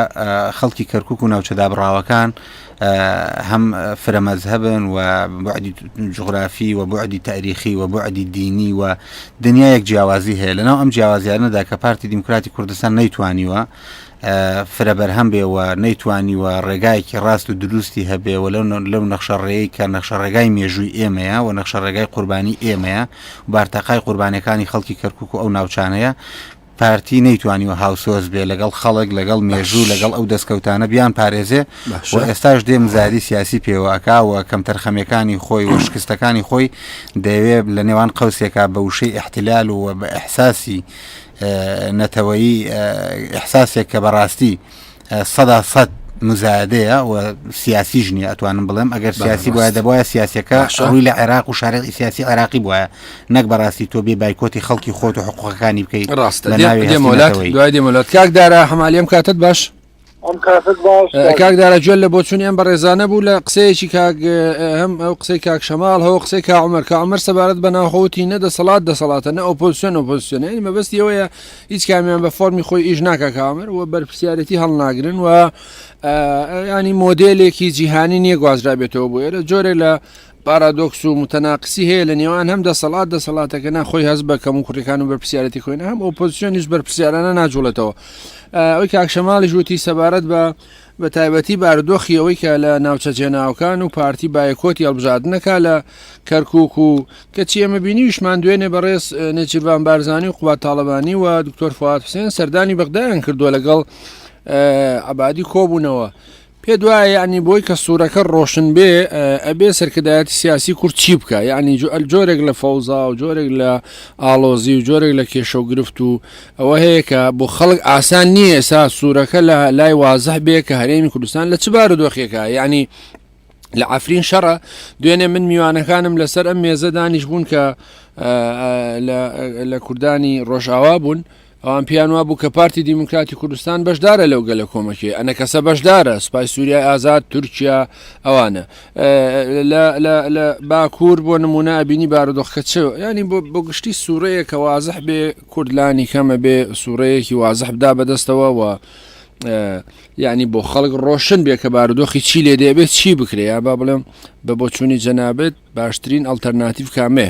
[SPEAKER 7] خەڵکی کەرکک و ناوچە دابڕاوەکان هەم فرە مەزهبن و بعدی جغرافی و بعدی تاریخی و بعدی دینی و دنیایەک جیاوازی هەیە لەناو ئەم جیاوازیانەدا کە پارتی دیموکراتی کوردستان نەیتوانیوە فرە بەرهەم بێ و نەیتوانی و ڕێگایەکی ڕاست و دروستی هەبێ و لەو نەخشە ڕێی کە نەخشە ڕێگای مێژووی ئێمەیە و نەخشە ڕێگای قوربانی ئێمەیە بارتەقای قوربانەکانی خەڵکی کەرکک و ئەو ناوچانەیە پارتی نەیتوانیوە هاوسۆز بێ لەگەڵ خەڵک لەگەڵ مێژوو لەگەڵ ئەو دەستکەوتانە بیان پارێزێ و ئێستاش دێ مزایدی سیاسی پێوە ئەکا و کەمتەرخەمیەکانی خۆی و شکستەکانی خۆی دەیەوێ لە نێوان قەوسێکا بە وشەی ئیحتلال و بە ئیحساسی نەتەوەیی ئیحساسێک کە بەڕاستی سەدا سەد مزایدەیە و سیاسیش نیە ئەتوانم بڵێم ئەگەر سیاسی بواە دەبواە سیاسەکە ڕووی لە عێراق و شارەی سیاسی عراقی بواە نەک بەڕاستی تۆ بێ بایکۆتی خەڵکی خۆت و حقوقەکانی بکەیت ڕاستە دوای
[SPEAKER 3] دێمەلات کاکدارە هەمالیم کاتت باش کاکدارە جوێن لە بۆچون ئەم بەڕێزانە بوو لە قسەیەکی کاک هەم ئەو قسەی کاک شەماڵ هەو قسەی کاعمەر کامەر سەبارەت بە ناوخۆتی نە دەسەڵات دەسەڵاتە نە ئۆپۆسیۆن ئۆپۆسیۆنە مەبەستیەوەیە هیچ کامیان بە فۆرمی خۆی ئیش ناکا کامر و بەرپسیارەتی هەڵناگرن و ینی مۆدلێکی جیهانی نیە گوازرابێتەوە بۆ ئێرە جۆرێک لە پارادۆکس و متەناقسی هەیە لە نێوان هەم دەسەڵات دەسەڵاتەکە ناخۆی هەز بە کەم و کوڕەکان و بەرپسیارەتی خۆین هەم ئۆپۆزیسیۆنیش بەرپسیارانە ناجوڵێتەوە ئەوی کاکشەماڵی ژووتی سەبارەت بە بە تایبەتی بارودۆخی ئەوەی کە لە ناوچە جێناوەکان و پارتی بایکۆتی هەڵبژاردن ئەکا لە کەرکوک و کەچی ئێمە بینیویشمان دوێنێ بەڕێز نێچیرڤان بارزانی و قوباد تاڵەبانی و دکتۆر فواد حوسێن سەردانی بەغدایان کردووە لەگەڵ عەبادی کۆبوونەوە پێ دوایە یعنی بۆی کە سوورەکە ڕۆشن بێ ئەبێ سەرکردایەتی سیاسی کورد چی بکە یعنی جۆرێک لە فەوزا و جۆرێک لە ئاڵۆزی و جۆرێک لە کێشە و گرفت و ئەوە هەیە کە بۆ خەڵک ئاسان نییە ئێسا سوورەکە لە لای وازح بێ کە هەرێمی کوردستان لە چ بارودۆخێکە یعنی لە ئەفرین شەڕە دوێنێ من میوانەکانم لەسەر ئەم مێزە دانیش بوون کە لە کوردانی ڕۆژاوا بوون ئەوان پیان وابوو کە پارتی دیموکراتی کوردستان بەشدارە لەو گەلە کۆمەکێ ئەە کەسە بەشدارە سپای سووریای ئازاد تورکیا ئەوانە لە باکوور بۆ نمونە بینی بارودۆخکە چ ینی بۆ گشتی سوورەیە کە وازح بێ کورد لانی کەم ئەبێ سووڕەیەکی وازح بدا بەدەستەوە و یعنی بۆ خەڵک ڕۆشن بێ کە بارودۆخی چی لێ دەبێت چی بکرێ یا با بڵێم بە بۆچوونی جەنابێت باشترین ئەلتەرناتیف کامێ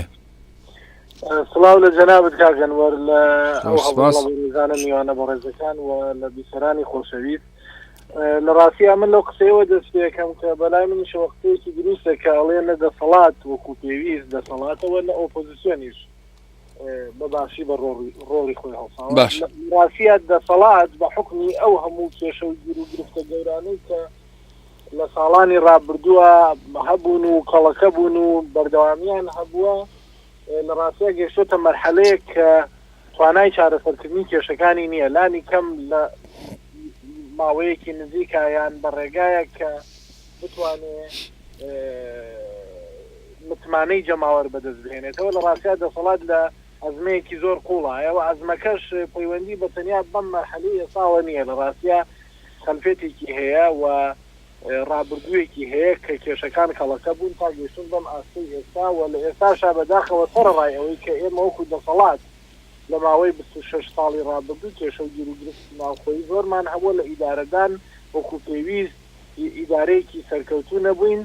[SPEAKER 3] سڵاو
[SPEAKER 8] لە جەنابەت کاگەنوەر لە ئەوزانە میوانە بە ڕێزەکان و لە بیسەرانی خۆشەویست لە ڕاستی ئەمن لەو قسەوە دەست پێەکەم کە بەلای من شوەختەیەکی دروستە کاڵێ نە دەسەڵات وەکو پێویست دەسەڵاتەوە لە ئۆپۆزیسیۆنیش بەباشی بە ڕۆڵی خۆی هەڵساوە باش راسیات دەسەڵات بە حکمی ئەو هەموو کێشە و گیر و گرفتە گەورانەی کە لە ساڵانی ڕابردووە هەبوون و کەڵەکە بوون و بەردەوامیان هەبووە لە ڕاستە گەشتۆتە مەرحەلەیە کە توانای چارەسەرکردنی کێشەکانی نییە لانی کەم لە ماوەیەکی نزیکایان بە ڕێگایە کە بتوانێ متمانەی جەماوەر بەدەست بهێنێتەوە لە ڕاستیا دەسەڵات لە ئەزمەیەکی زۆر قوڵایە و ئەزمەکەش پەیوەندی بە تەنیا بەم مەرحەلی ئێساوە نییە لە ڕاستیا خەلفێتێکی هەیە و ڕابردوویەکی هەیە کە کێشەکان کەڵەکە بوون تا گەشتن بەم ئاستەی ئێستا و لە ئێستاشا بەداخەوە سەرڕای ئەوەی کە ئێمە وەکو دەسەڵات لە ماوەی 26 ساڵی ڕابردوو کێشە و گیروگرفتی ناوخۆی زۆرمان هەبووە لە ئیدارەدان وەکو پێویست هی ئیدارەیەکی سەرکەوتوو نەبووین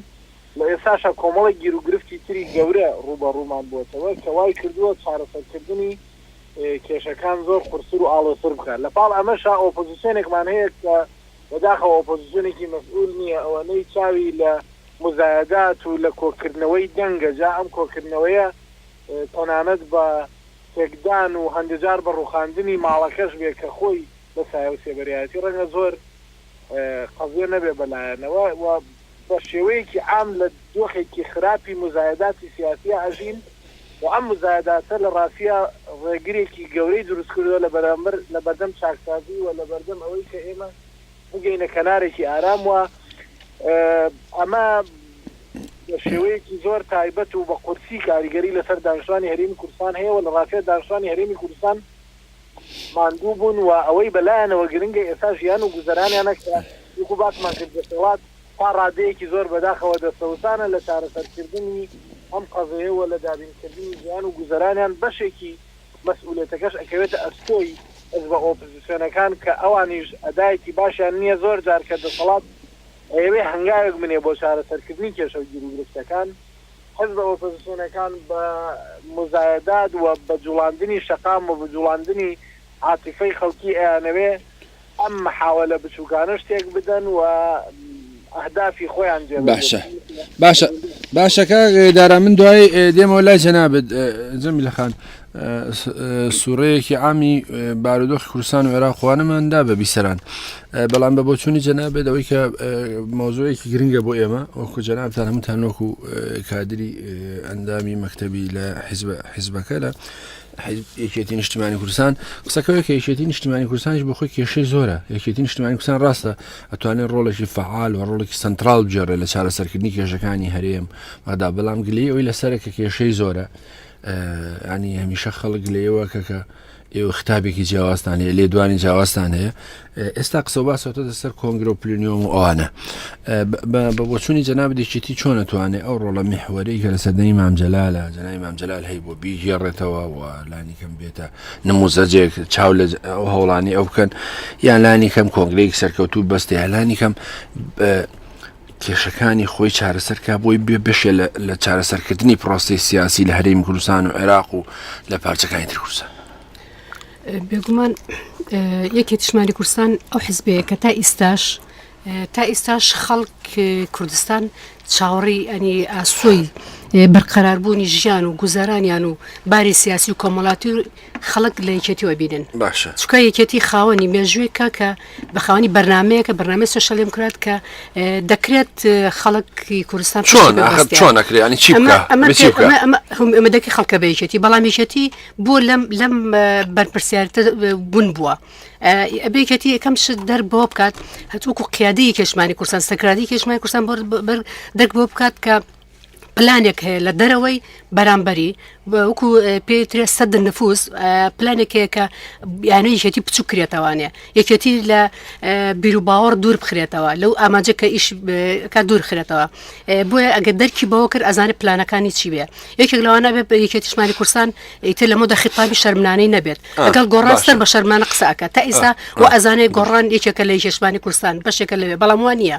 [SPEAKER 8] و ئێستاشە کۆمەڵێک گیروگرفتی تری گەورە ڕووبەڕوومان بووەتەوە کە وایکردووە چارەسەرکردنی کێشەکان زۆر قورستر و ئاڵۆزتر بکات، لەپاڵ ئەمەشا ئۆپۆزسیۆنێکمان هەیە کە بەداخەوە ئۆپۆزسیۆنێکی مەسئول نییە ئەوەنەی چاوی لە موزایەدات و لە کۆکردنەوەی دەنگە جا ئەم کۆکردنەوەیە تەنانەت بە تێکدان و هەندەجار بە ڕووخاندنی ماڵەکەش بێ کە خۆی بە سایەو سێبەرایەتی ڕەنگە زۆر قەزیە نەبێ بە لایەنەوە و بە شێوەیەکی عام لە دۆخێکی خراپی موزایەداتی سیاسییا ئەژین و ئەم موزایەداتە لە ڕاستییا ڕێگرێکی گەورەی دروست کردوە لە بەرامبەر لە بەردەم چاکسازی و لە بەردەم ئەوەی کە ئێمە بگەینە کەنارێکی ئارام و ئەمە بە شێوەیەکی زۆر تایبەت و بە قورسی کاریگەری لەسەر دانیشتوانی هەرێمی کوردستان هەیە و لە ڕاستییا دانیشتوانی هەرێمی کوردستان ماندوو بوون و ئەوەی بەلایانەوە گرنگە ئێستا ژیان و گوزەرانیانە کە وەکو باسمان کرد دەسەڵات تا ڕادەیەکی زۆر بەداخەوە دەستەوستانە لە چارەسەرکردنی ئەم قەزەیە و لە دابینکردنی ژیان و گوزەرانیان بەشێکی مەسئولیەتەکەش ئەکەوێتە ئەستۆی حزبە ئۆپزسیۆنەکان کە ئەوانیش ئەدایەکی باشیان نیە زۆر جار کە دەسەڵات ئەیەوێ هەنگاوێک بنێ بۆ چارەسەرکردنی کێشە و گیروگرفتەکان حزبە ئۆپۆزسیۆنەکان بە موزایەدات و بە جوڵاندنی شەقام و بە جوڵاندنی عاتیفەی خەڵکی ئەیانەوێ ئەم محاوەلە بچوکانەش تێک بدەن و ئەهدافی خۆیان جێ بەجێ باشە بکەن. باشە
[SPEAKER 3] باشە کاک دارا من دوای دێمەوە لای جەنابت جەمیل خان سوورەیەکی عامی بارودۆخی کوردستان و عێراق وانەماندا بە بیسەران بەڵام بە بۆچوونی جەنابێت ئەوەی کە مۆزۆیەکی گرنگە بۆ ئێمە وەکو جەنابتان هەمووتان وەکو کادری ئەندامی مەکتتەبی لە حیزب حیزبەکە لە یەکێتی نیشتمانی کوردستان قسەکەوە کە یەکێتی نیشتمانی کوردستانش بۆ خۆی کێشەی زۆرە یەکێتی نیشتمانی کوردستان ڕاستە ئەتوانێت ڕۆڵێکی فعال و ڕۆڵێکی سنترال بجێڕێ لە چارەسەرکردنی کێشەکانی هەرێم مادا بەڵام گلی ئەوی لەسەرە کە کێشەی زۆرە ینی هەمیشە خەڵک لێوە کەکە ئێوە خطابێکی جیاوازتان هەیە لێ دوانی جیاوازتان هەیە ئێستا قسە باسەوە دەسەر کۆنگرۆ پلنیۆم و ئەوانە بە بۆچوونی جەناب دێکێتی چۆن نتوانێت ئەو ڕۆڵە میحوەری کە لە سەدەی مامجلالە جەنای مامجلال هەی بۆ بیگێڕێتەوە و لانی کەم بێتە نموزەجێک چاو لە ئەو هەوڵانی ئەو بکەن یان لانی کەم کۆنگرەیەک سەرکەوتوو بەستێ هەلانی کەم کێشەکانی خۆی چارەسەر کا بۆی بێ بەشێ لە چارەسەرکردنی پرۆسی سیاسی لە هەریم کوردستان و عێراق و لە پارچەکانی ترکوسە
[SPEAKER 4] بێگومان یەکی تشمانی کوردستان ئەو حزبەیە کە تا ئیستاش تا ئیستاش خەڵک کوردستان چاوەڕی ئەنی ئاسۆی بەرقەراربوونی ژیان و گوزارانیان و باری سیاسی و کۆمەڵاتی خەڵک لە یەکێتیەوە بینن باشە چکە یەکێتی
[SPEAKER 3] خاوەنی
[SPEAKER 4] مێژووێکە کە بە خاوەنی بەرنمەیەکە بەنامەی سوۆشەل دموکرات کە دەکرێت خەڵکی کوردستان چۆن چۆن
[SPEAKER 3] نەکرێت ینی چی
[SPEAKER 4] ئەمە دەکی خەڵکە بە یەکێتی بەڵام یەکێتی بۆ لەم لەم بەرپرسیارتە بوون بووە. ئەبێکێتی یەکەم شت دەر بۆ بکات هەتووکو قیادی کێشمانی کورسان سەکرادی کێشمای کورسان بەر دەک بۆ بکات کە پلانێک هەیە لە دەرەوەی بەرامبەری وەکو پێترێ سەد نفوس پلانێکێکە یانە یشێتی بچوو کرێتەوانێ یەکێتی لە بیروباوەڕ دوور بخرێتەوە لەو ئاماجە کە ئیش کە دوور خرێتەوە بۆیە ئەگە دەرکی بەوە کرد ئەزانە پلانەکانی چی بێ یەکێک لەوانە بێ بە یەکێتیشمانی کورسان ئیتر لەمە دە خیتابی شەرمنانەی نەبێت ئەگەڵ گۆڕاستەر بە شەرمانە قساکە تا ئیسا و ئەزانێ گۆڕان یەکێکە لە یشمانی کورسان بەشێکە لەوێ بەڵام وان نیە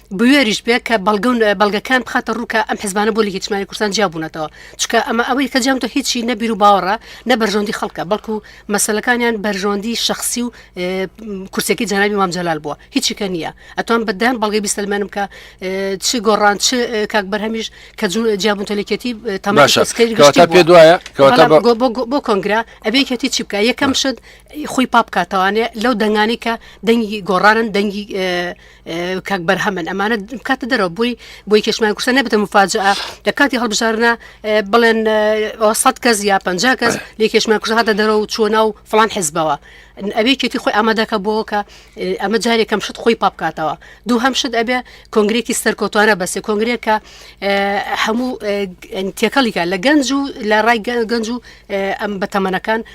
[SPEAKER 3] بوێریش بێ کە
[SPEAKER 4] بەڵگە و بەڵگەکان بخاتە ڕوو کە ئەم حزبانە بۆ لە هیچمانی کوردستان جیا بوونەتەوە چکە ئەمە ئەوەی کە جامتۆ هیچی نەبیر و باوەڕە نە بەرژەوندی خەڵکە بەڵکو مەسلەکانیان بەرژەوەندی شخصی و کورسێکی جەنابی مام جەلال بووە هیچی کە نییە ئەتوان بەدان بەڵگەی بیسەلمێنم کە چ گۆڕان چ کاک بەرهەمیش کە جون جیابوون تەلێکێتی تەماشا
[SPEAKER 3] پێ دوایە بۆ
[SPEAKER 4] کۆنگرا ئەبێکێتی چی بکە یەکەم شت خۆی پاپکاتەوانێ لەو دەنگانی کە دەنگی گۆڕانن دەنگی کاک بەرهەمن ئەمانە کاتە دەرەوە بووی بۆی کێشمان کوردستان نەبێتە مفاجە لە کاتی هەڵبژارنە بڵێن سەد کەس یا پ کەس لێ کێشمان کوردستان هاتە دەرەوە و چۆنا و فلان حزبەوە ئەبێ کێتی خۆی ئامادەکە بۆ کە ئەمە جارێکم شت خۆی پاپکاتەوە دوو هەم شت ئەبێ کۆنگرێکی سەرکۆتوانە بەسێ کۆنگرێکە هەموو تێکەڵیکە لە گەنج و لە ڕای گەنج و ئەم بەتەمەنەکان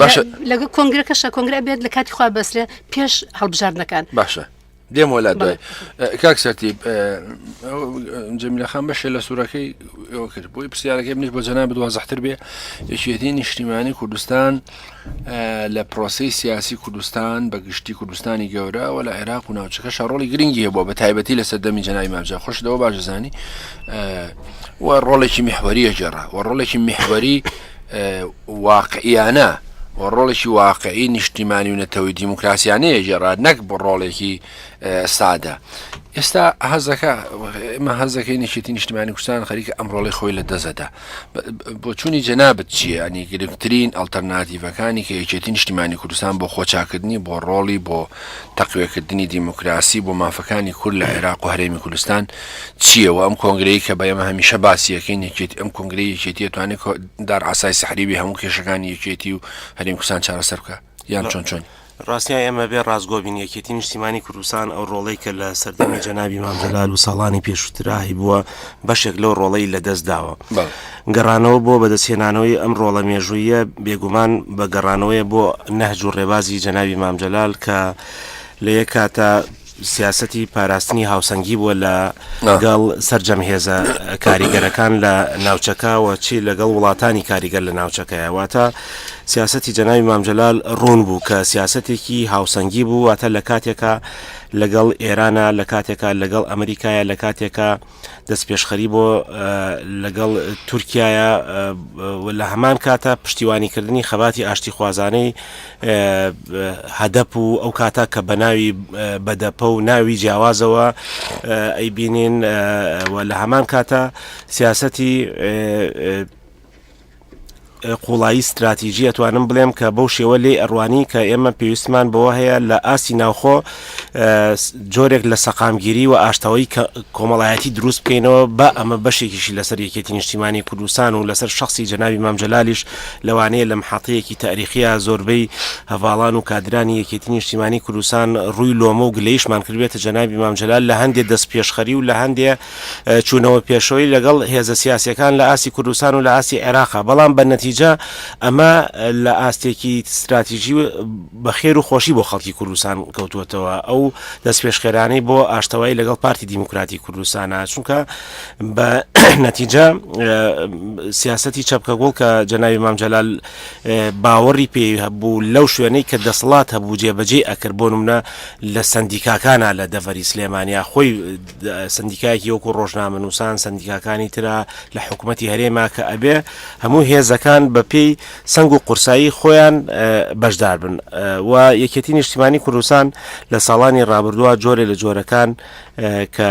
[SPEAKER 4] باشە
[SPEAKER 3] لەگە
[SPEAKER 4] کۆنگرەکەشە کۆنگرە بێت لە کاتی خوا بەسرە پێش هەڵبژاردنەکان باشە
[SPEAKER 3] دێم وەلا دوای کاک سەرتی جەمیلەخان بەشێ لە سوورەکەی ئەوە کرد بۆی پرسیارەکەی منیش بۆ جەنا بدووا زەحتر بێ یەکێتی نیشتیمانی کوردستان لە پرۆسی سیاسی کوردستان بە گشتی کوردستانی گەورە و لە عێراق و ناوچەکە شەڕۆڵی گرنگی هەبووە بە تایبەتی لە سەردەمی جەنای مامجا خۆشەوە باشزانانی و ڕۆڵێکی میحوەریە گێڕا و ڕۆڵێکی میحوەری واقعییانە و ڕۆڵێکی واقعی نیشتیمانی و نەتەوەی دیموکراسیانەیە گێڕا نەک بۆ ڕۆڵێکی سادە ئێستا هەزەکە ئمە هەزەکەی نشێتی نیشتمانی کوردستان خەریکە ئەم ڕۆڵی خۆی لە دەزەدا بۆچوونی جەنابەت چییە ئەنی گرنگترین ئەلتەرناتیڤەکانی کە یەکێتی نیشتیمانی کوردستان بۆ خۆچاکردنی بۆ ڕۆڵی بۆ تەقوێکردنی دیموکراسی بۆ مافەکانی کورد لە عێراق و هەرێمی کوردستان چیە وە ئەم کۆنگرەی کە بەئێمە هەمیشە باسی یەکەین یەکێتی ئەم کۆنگرەی یەکێتی توانێت دار ئاسای سحری بێ هەموو کێشەکانی یەکێتی و هەرێم کوردستان چارەسەر بکە یان چۆن چۆن ڕاستە ئێمە بێ
[SPEAKER 5] ڕاستگۆ بین یەکێتی نیشتیمانی کوردستان ئەو ڕۆڵەی کە لە سەردەمی جەنابی مامجلال و ساڵانی پێشوتراهی بووە بەشێک لەو ڕۆڵەی لە دەست داوە گەڕانەوە بۆ بەدەستهێنانەوەی ئەم ڕۆڵە مێژوویە بێگومان بە گەڕانەوەی بۆ نەهج و ڕێبازی جەنابی مامجلال کە لە یەک کاتە سیاسەتی پاراستنی هاوسەنگی بووە لە گەڵ سەرجەم هێزە کاریگەرەکان لە ناوچەکە و چی لە گەڵ وڵاتانی کاریگەر لە ناوچەکەیە واتە سیاسەتی جەناوی مامجلال ڕوون بوو کە سیاسەتێکی هاوسەنگی بوو واتە لە کاتێکە لەگەڵ ئێرانە لە کاتێکە لەگەڵ ئەمریکایە لە کاتێکە دەستپێشخەری بۆ لەگەڵ تورکیایە و لە هەمان کاتە پشتیوانیکردنی خەباتی ئاشتیخوازانەی هەدەپ و ئەو کاتە کە بە ناوی بەدەپە و ناوی جیاوازەوە ئەیبینین و لە هەمان کاتە سیاسەتی قوڵایی ستراتیجی ئەتوانم بڵێم کە بەو شێوە لێی ئەڕوانی کە ئێمە پێویستمان بەوە هەیە لە ئاستی ناوخۆ جۆرێک لە سەقامگیری و ئاشتەوەی کۆمەڵایەتی دروست بکەینەوە بە ئەمە بەشێکیشی لەسەر یەکێتی نیشتیمانی کوردستان و لەسەر شخصی جەنابی مامجلالیش لەوانەیە لە محطەیەکی تاریخیە زۆربەی هەڤاڵان و کادرانی یەکێتی نیشتیمانی کوردستان ڕووی لۆمە و گلەیشمان کردبێتە جەنابی مامجلال لە هەندێ دەست پێشخەری و لە هەندێ چوونەوە پێشەوەی لەگەڵ هێزە سیاسییەکان لە ئاستی کوردستان و لە ئاستی عێراقا، بەڵام بە نەتیجە ئەمە لە ئاستێکی ستراتیژی بە خێر و خۆشی بۆ خەڵکی کوردستان کەوتووەتەوە، ئەو دەستپێشخەرانەی بۆ ئاشتەوایی لەگەڵ پارتی دیموکراتی کوردستانە، چونکە بە نەتیجە سیاسەتی چەپکەگوڵ کە جەنابی مام جەلال باوەڕی پێ هەبوو لەو شوێنەی کە دەسەڵات هەبوو جێبەجێ ئەکرد بۆ نمونە لە سندیکاکانە لە دەڤەری سلێمانیا خۆی سەندیکایەکی وەکو ڕۆژنامەنووسان سەندیکاکانی ترە لە حکوومەتی هەرێما کە ئەبێ هەموو هێزەکان بە پێی سنگ و قورسایی خۆیان بەشدار بن و یەکێتی نیشتیمانی کوردستان لە ساڵانی ڕابردووە جۆرێ لە جۆرەکان کە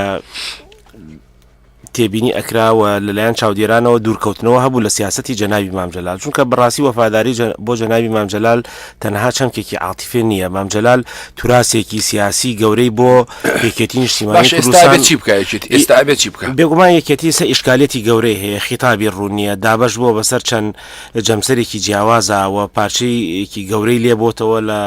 [SPEAKER 5] تێبینی ئەکراوە لەلایەن چاودێرانەوە دوورکەوتنەوە هەبوو لە سیاستی جەناوی مامجلال چونکە بڕاستی وەفاداری بۆ جەناوی مامجلال تەنها چەمکێکی عاتیفێ نییە مامجلال توراسێکی سیاسی گەورەی بۆ یەکێتی نیشتیمانی کوردستان چی بکە یەکێتی ئێستا ئەبێت چی بکە بێگومان یەکێتی سە ئیشکالێتی گەورەی هەیە خیتابی ڕوونیە دابش بووە بەسەر چەند جەمسەرێکی جیاوازەوە پارچەیەکی گەورەی لێبتەوە لە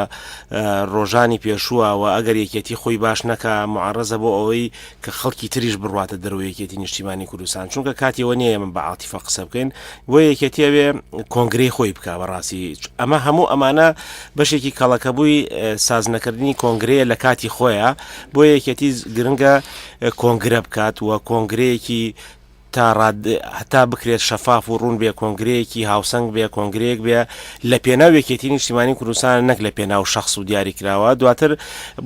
[SPEAKER 5] ڕۆژانی پێشووە و ئەگەر یەکێتی خۆی باش نەکە معڕزە بۆ ئەوەی کە خەڵکی تریش بڕاتە دەرەوە یەکێتی نیشتیمانی کوردستان چونکە کاتیەوە نیە من بە عاتیفە قسە بکەین بۆ یەکێتیەوێ کۆنگری خۆی بک بەڕاستی ئەمە هەموو ئەمانە بەشێکی کەڵەکەبووی سازنەکردنی کۆنگرەیە لە کاتی خۆیە بۆ یەکێتی گرنگە کۆنگرە بکات و کۆنگرەیەکی تا ڕاد هەتا بکرێت شەفاف و ڕوون بێ کۆنگرەیەکی هاوسەنگ بێ کۆنگرەیەک بێ لە پێناو یەکێتی نیشتیمانی کوردستان نەک لە پێناو شخص و دیاری کراوە دواتر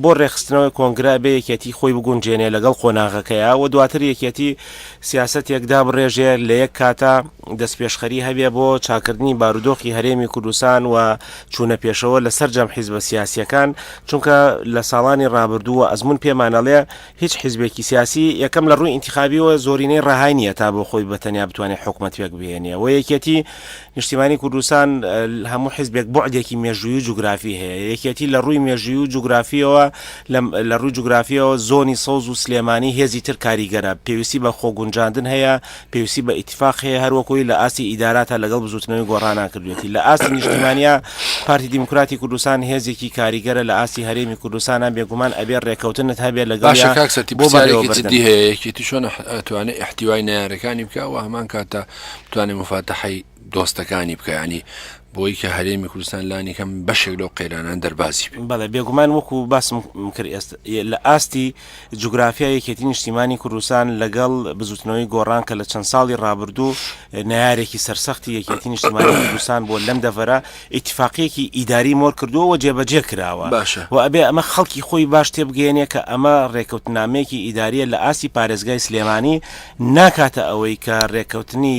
[SPEAKER 5] بۆ ڕێخستنەوەی کۆنگرە بێ یەکێتی خۆی بگونجێنێ لەگەڵ قۆناغەکەیە و دواتر یەکێتی سیاسەتێک دابڕێژێ لە یەک کاتە دەستپێشخەری هەبێ بۆ چاکردنی بارودۆخی هەرێمی کوردستان و چوونە پێشەوە لە سەرجەم حیزبە سیاسییەکان، چونکە لە ساڵانی ڕابردووە ئەزموون پێمان ئەڵێ هیچ حیزبێکی سیاسی یەکەم لە ڕووی ئینتیخابییەوە زۆرینەی ڕەهای نییە تا بۆ خۆی بە تەنیا بتوانێ حکومەت پێک بهێنێ و یەکێتی نیشتیمانی کوردستان لە هەموو حیزبێک بوعدێکی مێژووی و جوگرافی هەیە یەکێتی لە ڕووی مێژووی و جوگرافییەوە لە لە ڕووی جوگرافییەوە زۆنی سەوز و سلێمانی هێزی تر کاریگەرە پێویستی بە خۆگونجاندن هەیە پێویستی بە ئیتیفاق هەیە هەر وەکوی لە ئاستی ئیداراتا لەگەڵ بزوتنەوەی گۆڕانا کردوێتی لە ئاستی نیشتیمانیا پارتی دیموکراتی کوردستان هێزێکی کاریگەرە لە ئاستی هەرێمی کوردستانا بێگومان ئەبێ ڕێکەوتنت هەبێ لە گەڵ کاک سەتی پرسیارێکی جدی هەیە یەکێتی
[SPEAKER 3] چۆن ئەتوانێ ئیحتیوای نەیارەکانی بکا و هەمان کاتە بتوانێ موفاتەحەی دۆستەکانی بکە یانی بۆی کە هەرێمی کوردستان لانی کەم بەشێک لەو قەیرانان دەربازی بێ. بەڵێ بێگومان وەکو
[SPEAKER 5] باسم کرد ئێست لە ئاستی جوگرافیا یەکێتی نیشتیمانی کوردستان لەگەڵ بزوتنەوەی گۆڕان کە لە چەند ساڵی ڕابردوو نارێکی سەرسەختی یەکێتی نیشتیمانی کوردستان بۆ لەم دەڤەرە ئیتفاقیەکی ئیداری مۆر کردووە و جێبەجێ کراوە باشە و ئەبێ ئەمە خەڵکی خۆی باش تێبگەێنێ کە ئەمە ڕێکەوتنامەیەکی ئیداریە لە ئاستی پارێزگای سلێمانی ناکاتە ئەوەی کە ڕێکەوتنی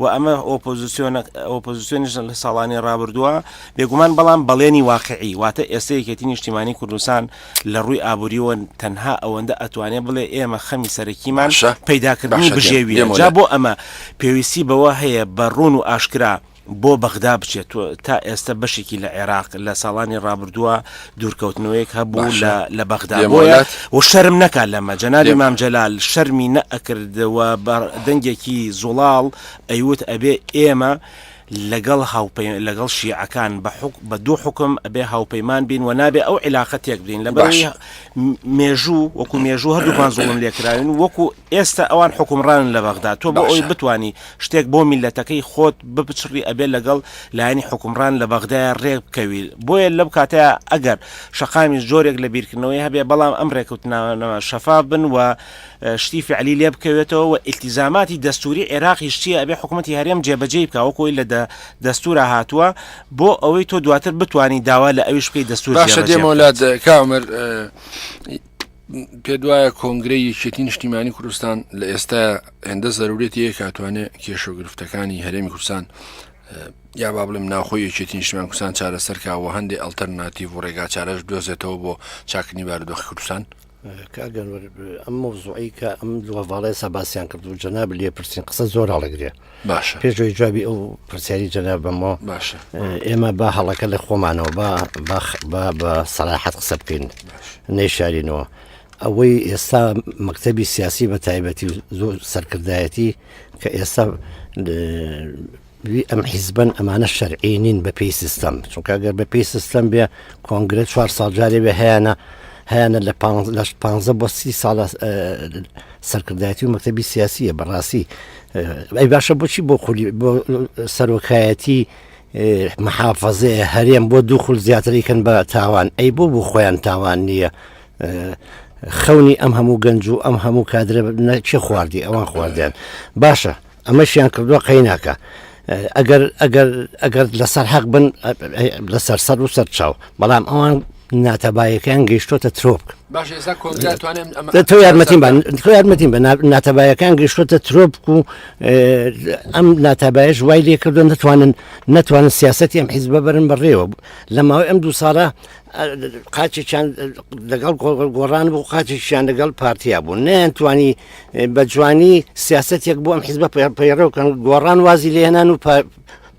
[SPEAKER 5] و ئەمە ئۆپۆزسیۆنە ئۆپۆزسیۆنیش لە ساڵانی ڕابردووە بێگومان بەڵام بەڵێنی واقعی واتە ئێستا یەکێتی نیشتیمانی کوردستان لە ڕووی ئابووریەوە تەنها ئەوەندە ئەتوانێت بڵێ ئێمە خەمی سەرەکیمان باشە پەیداکردنی باشە دێم بژێویە دێم جا وەلات بۆ ئەمە پێویستی بەوە هەیە بە ڕوون و ئاشکرا بۆ بەغدا بچێت و تا ئێستا بەشێکی لە عێراق لە ساڵانی ڕابردووە دوورکەوتنەوەیەک هەبوو باشە لە بەغدا لێم بۆیە وەلات و شەرم نەکات لەمە جەنابی لێم مام جەلال شەرمی نەئەکرد و بە دەنگێکی زوڵاڵ ئەیوت ئەبێ ئێمە لەگەڵ هاوپەی لەگەڵ شیعەکان بە حوک بە دوو حوکم ئەبێ هاوپەیمان بین و نابێ ئەو عیلاقە تێک بدەین لەبەرەوەی باشە م- مێژوو وەکوو مێژوو هەردووکمان زوڵم لێ کراوین وەکوو ئێستە ئەوان حوکمڕانن لە بەغدا تۆ بۆ ئەوەی باشە بتانی شتێک بۆ میلەتەکەی خۆت بپچڕی ئەبێ لەگەڵ لایەنی حوکمڕان لە بەغدایا رێک بکەوی بۆیە لەو کاتەیا ئەگەر شەقامیش جۆرێک لە بیرکردنەوەی هەبێ بەڵام ئەم رێکەوتنانە شەفاف بن و شتی فعلی لێ بکەوێتەوە و ئیلتیزاماتی دەستوری عێراقیش چیە ئەبێ حکومەتی هەرێم جێ بەجێی بکا وەکو ئەوەی لە دەستورا هاتوە بۆ ئەوەی تۆ دواتر بتوانی داوا لە ئەویش بکەی دەستور جێ بەجێ بکات. باشە دێمەوە لات
[SPEAKER 3] کامەر. پێت وایە کۆنگرەی یەکێتی نیشتیمانی کوردستان لە ئێستا هێندە زەرورێت یە کاتوانێ کێش و گرفتەکانی هەرێمی کوردستان یا با بڵێم ناوخۆی یەکێتی نیشتیمان کوردستان چارەسەرکەوە هەندێ ئەلتەرناتیڤ و ڕێگا چارەش دۆزێتەوە بۆ چاکنی بارودۆخی کوردستان کاگەنوەر
[SPEAKER 6] ئەم مۆزوعی کە ئەم دووەڤڵێ سەباسیان کرد و جەناب لێ پرسین قسە زۆر هەڵەگرێ باشە پێشەوەی
[SPEAKER 3] جوابی ئەو
[SPEAKER 6] پرسیاری جەنا بەمەوە باشە ئێمە
[SPEAKER 3] با
[SPEAKER 6] هەڵەکە لە خۆمانەوە با باخ با بە سەراحەت قسە بکەین نەیشارینەوە ئەوەی ئێستا مەکتتەبی سیاسی بە تایبەتی و زۆر سەرکردایەتی کە ئێستا ئەم حیزبن ئەمانە شەرعی نین بە پێی سیستەم چونکە گەر بە پێی سیستەم بێ کۆنگرە چوار ساڵجارێ بێ هەیەە هەیەە لە لە پ بۆ سی ساڵ سەرکردایەتی و مەکتەبی سیاسیە بەڕاستی ئەی باشە بۆچی بۆ خولی بۆ سەرۆکایەتی محافەزێ هەرێم بۆ دوو خول زیاتریکەن بە تاوان ئەی بۆ بۆ خۆیان تاوان نییە خەونی ئەم هەموو گەنج و ئەم هەموو کادرە نەچێ خواردی ئەوان خواردیان باشە ئەمەشیان کردووە قەیناکە ئەگەر ئەگەر ئەگەر لەسەر حەق بن لەسەر سەر و سەر چاو بەڵام ئەوان ناتەبایەکەیان گەیشتۆتە ترۆک تۆ یارمەتیم تۆ یارمەتیم بە ناتەبایەکان گەیشتۆتە ترۆپ و ئەم ناتابایش وای لێ کردو نتوانن نتوانن سیاستی ئەم حیزبە بەرن بەڕێوە لە ماوەی ئەم دوو ساڵە قاچێکیان لەگەڵ گۆڕان بۆ قاچێکیان لەگەڵ پارتیا بوو نیان توانی بە جوانی سیاسەتێک بۆ ئەم حیزبە پەیڕەوکەن گۆڕان وازی لێنان و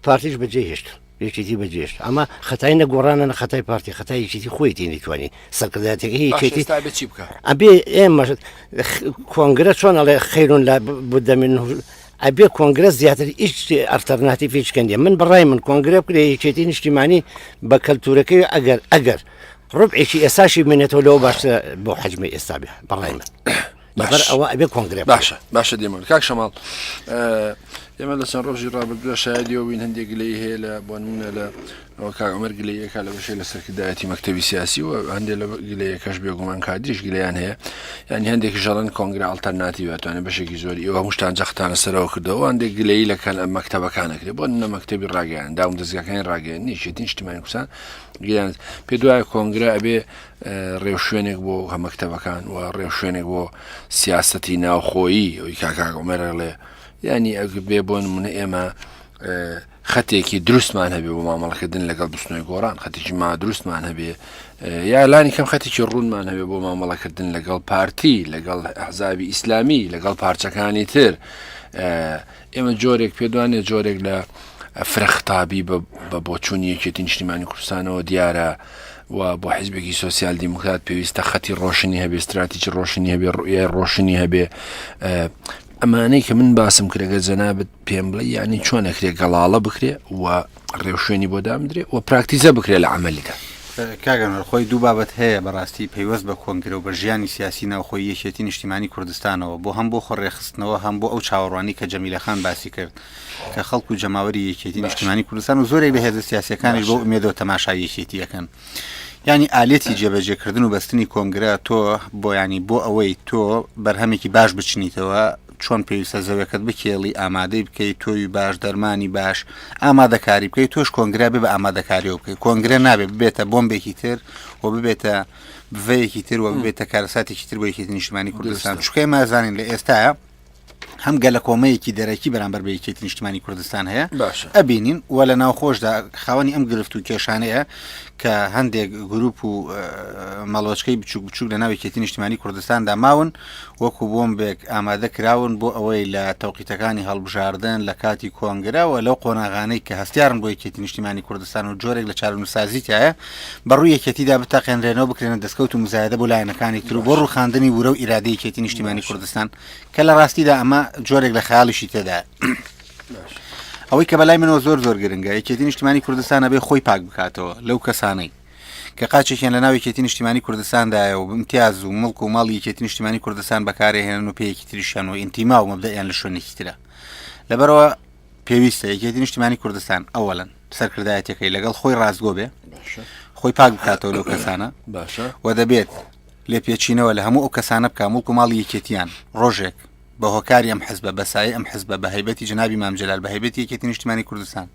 [SPEAKER 6] پارتیش بەجێ هێشت یەکێتی بەجێشت ئەمە خەتای نە گۆڕانە نە خەتای پارتی خەتای یەکێتی خۆی تینیتوانی سەرکرداتەکە یەکێتی بچی بکە ئەبێ ئێمە کۆنگرە چۆن ئەڵێ خەیرون لە بدەمین ئەبێ کۆنگرە زیاتر هیچ ئەرتەرناتی فیچکەندێ من بەڕای من کۆنگرە بکرێ یەکێتی نیشتیمانی بە کەلتورەکەی ئەگەر ئەگەر ڕبعێکی ئێساشی منێتەوە لەوە باشتر بۆ حەجمی ئێستا بێ بەڕای من. لەبەر ئەوە ئەبێ کۆنگرێ باشە باشە دێمە کاک
[SPEAKER 3] شەماڵ ئێمە لە چەند ڕۆژی ڕابردووە شایدیەوەین هەندێک گلەی هەیە لە بۆ نمونە لە ئەوە کاگەمەر گلەیەکە لە بەشێ لە سەرکردایەتی مەکتتەبی سیاسی و هەندێ لە گلەیەکەش بێگومان کادریش گلیان هەیە ینی هەندێکی ژەڵەن کۆنگرا ئەڵتەرناتیواتوانێت بەشێکی زۆری ئەوە هەمشتان جەختانە سەرەوە کردەوە هەندێک گلەی لە کەل ئەم مەکتتەبەکانەکرێت بۆ نە مەکتتەبی ڕاگەیان داوم دەستگاکانی ڕاگەیان نیشێتین شتیمانی کوسان گیان پێ دوایە کۆنگرا ئەبێ ڕێوشوێنێک بۆ مەکتەبەکان و ڕێوشوێنێک بۆ سیاستی ناوخۆیی ئەوی کاکاک عمەرەڵێ ینی ئەگە بێ بۆن منە ئێمە خەتێکی دروستمان هەبێ بۆ مامەڵەکردن لەگەڵ بستنەوەی گۆڕان خەتێکی ما دروستمان هەبێ یا لانی کەم خەتێکی ڕوونمان هەبێ بۆ مامەڵەکردن لەگەڵ پارتی لەگەڵ حزابی ئیسلامی لەگەڵ پارچەکانی تر ئێمە جۆرێک پێدوانێ جۆرێک لە فرەخطابی بە بۆچوونی یەکێتی نیشتیمانی کوردستانەوە دیارە و بۆ حیزبێکی سوسیال دیموکرات پێویستە خەتی ڕۆشنی هەبێ استراتیجی ڕۆشنی هەبێ ڕوئای ڕۆشنی هەبێ ئەمانەی کە من باسم کرێگە جەنابەت پێم بڵێ ینی چۆنەکرێ گەڵاڵە بکرێ و ڕێوشوێنی بۆ دامدرێ و پراکتیزە بکرێ لە عملیدا کاگەن خۆی
[SPEAKER 7] دوو بابەت هەیە بەڕاستی پەیوەست بە کۆنگرە و بە ژیانی سیاسی ناوخۆی یەکێتی نیشتیمانی کوردستانەوە بۆ هەم بۆ خۆڕێخستنەوە هەم بۆ ئەو چاوەڕوانی کە جەمیلەخان باسی کرد کە خەڵک و جەماوەری یەکێتی نیشتیمانی کوردستان و زۆرێک لە هێزە سیاسەکانی بۆ ئومێدەوە تەماشا یەکێتیەکەن ینی ئالێتی جێبەجێکردن و بەستنی کۆنگرە تۆ بۆ ینی بۆ ئەوەی تۆ بەرهەمێکی باش بچنیتەوە چۆن پێویستە زەوێکەت بکێڵی ئامادەی بکەی تۆوی باش دەرمانی باش ئامادەکاری بکەی تۆش کۆنگرا بێ بە ئامادەکاریەوە بکەی کۆنگرە نابێ ببێتە بۆمبێکی تر و ببێتە بڤەیەکی تر و ببێتە کارەساتێکی تر بۆ یەکێتی نیشتمانی کوردستان چکای مازانین لە ئێستاە هەم گەلە کۆمەیەکی دەرەکی بەرامبەر بە یەکێتی نیشتمانی کوردستان هەیە ئەبینین و لە ناوخۆشدا خاوەنی ئەم گرفت و کێشانەیە کە هەندێک گروپ و مەڵۆچکەی بچوک بچوک لە ناوێکێتی نیشتمانی کوردستاندا ماون وەکو بۆمبێک ئامادە کراون بۆ ئەوەی لە تەوقیتەکانی هەڵبژاردن، لە کاتی کۆنگرە و لەو قۆناغانەی کە هەستیارن بۆ یەکێتی نیشتیمانی کوردستان و جۆرێک لە چارەنووسسازی تیایە، بە ڕووی یەکێتیدا بتەقێنرێنەوە بکرێنە دەسکەوت و موزایەدە بۆ لایەنەکانی تر و بۆ ڕووخاندنی ورە و ئیرادەی یەکێتی نیشتیمانی کوردستان کە لە ڕاستیدا ئەمە جۆرێک لە خەیاڵیشی تێدایە. ئەوەی کە بە لای منەوە زۆر زۆر گرنگە، یەکێتی نیشتیمانی کوردستان ئەبێ خۆی پاک بکاتەوە لەو کەسانەی، کە قاچێکیان لە ناو یەکێتی نیشتیمانی کوردستاندایە و امتیاز و مڵک و ماڵی یەکێتی نیشتیمانی کوردستان بەکارێهێنن و پێیەکی تریشیان و ئینتیما و مەبدەیان لە شوێنێکی ترە لەبەرەوە پێویستە یەکێتی نیشتیمانی کوردستان ئەوەلەن سەرکردایەتەکەی لەگەڵ خۆی ڕاستگۆ بێ خۆی پاک بکاتەوە لەو کەسانە باشە و دەبێت لێپێچینەوە لە هەموو ئەو کەسانە بکە مڵک و ماڵی یەکێتیان ڕۆژێک بە هۆکاری ئەم حزبە بە سایەی ئەم حزبە بە هەیبەتی جنابی مام جلال بە هەیبەتی یەکێتی نیشتمانی کوردستان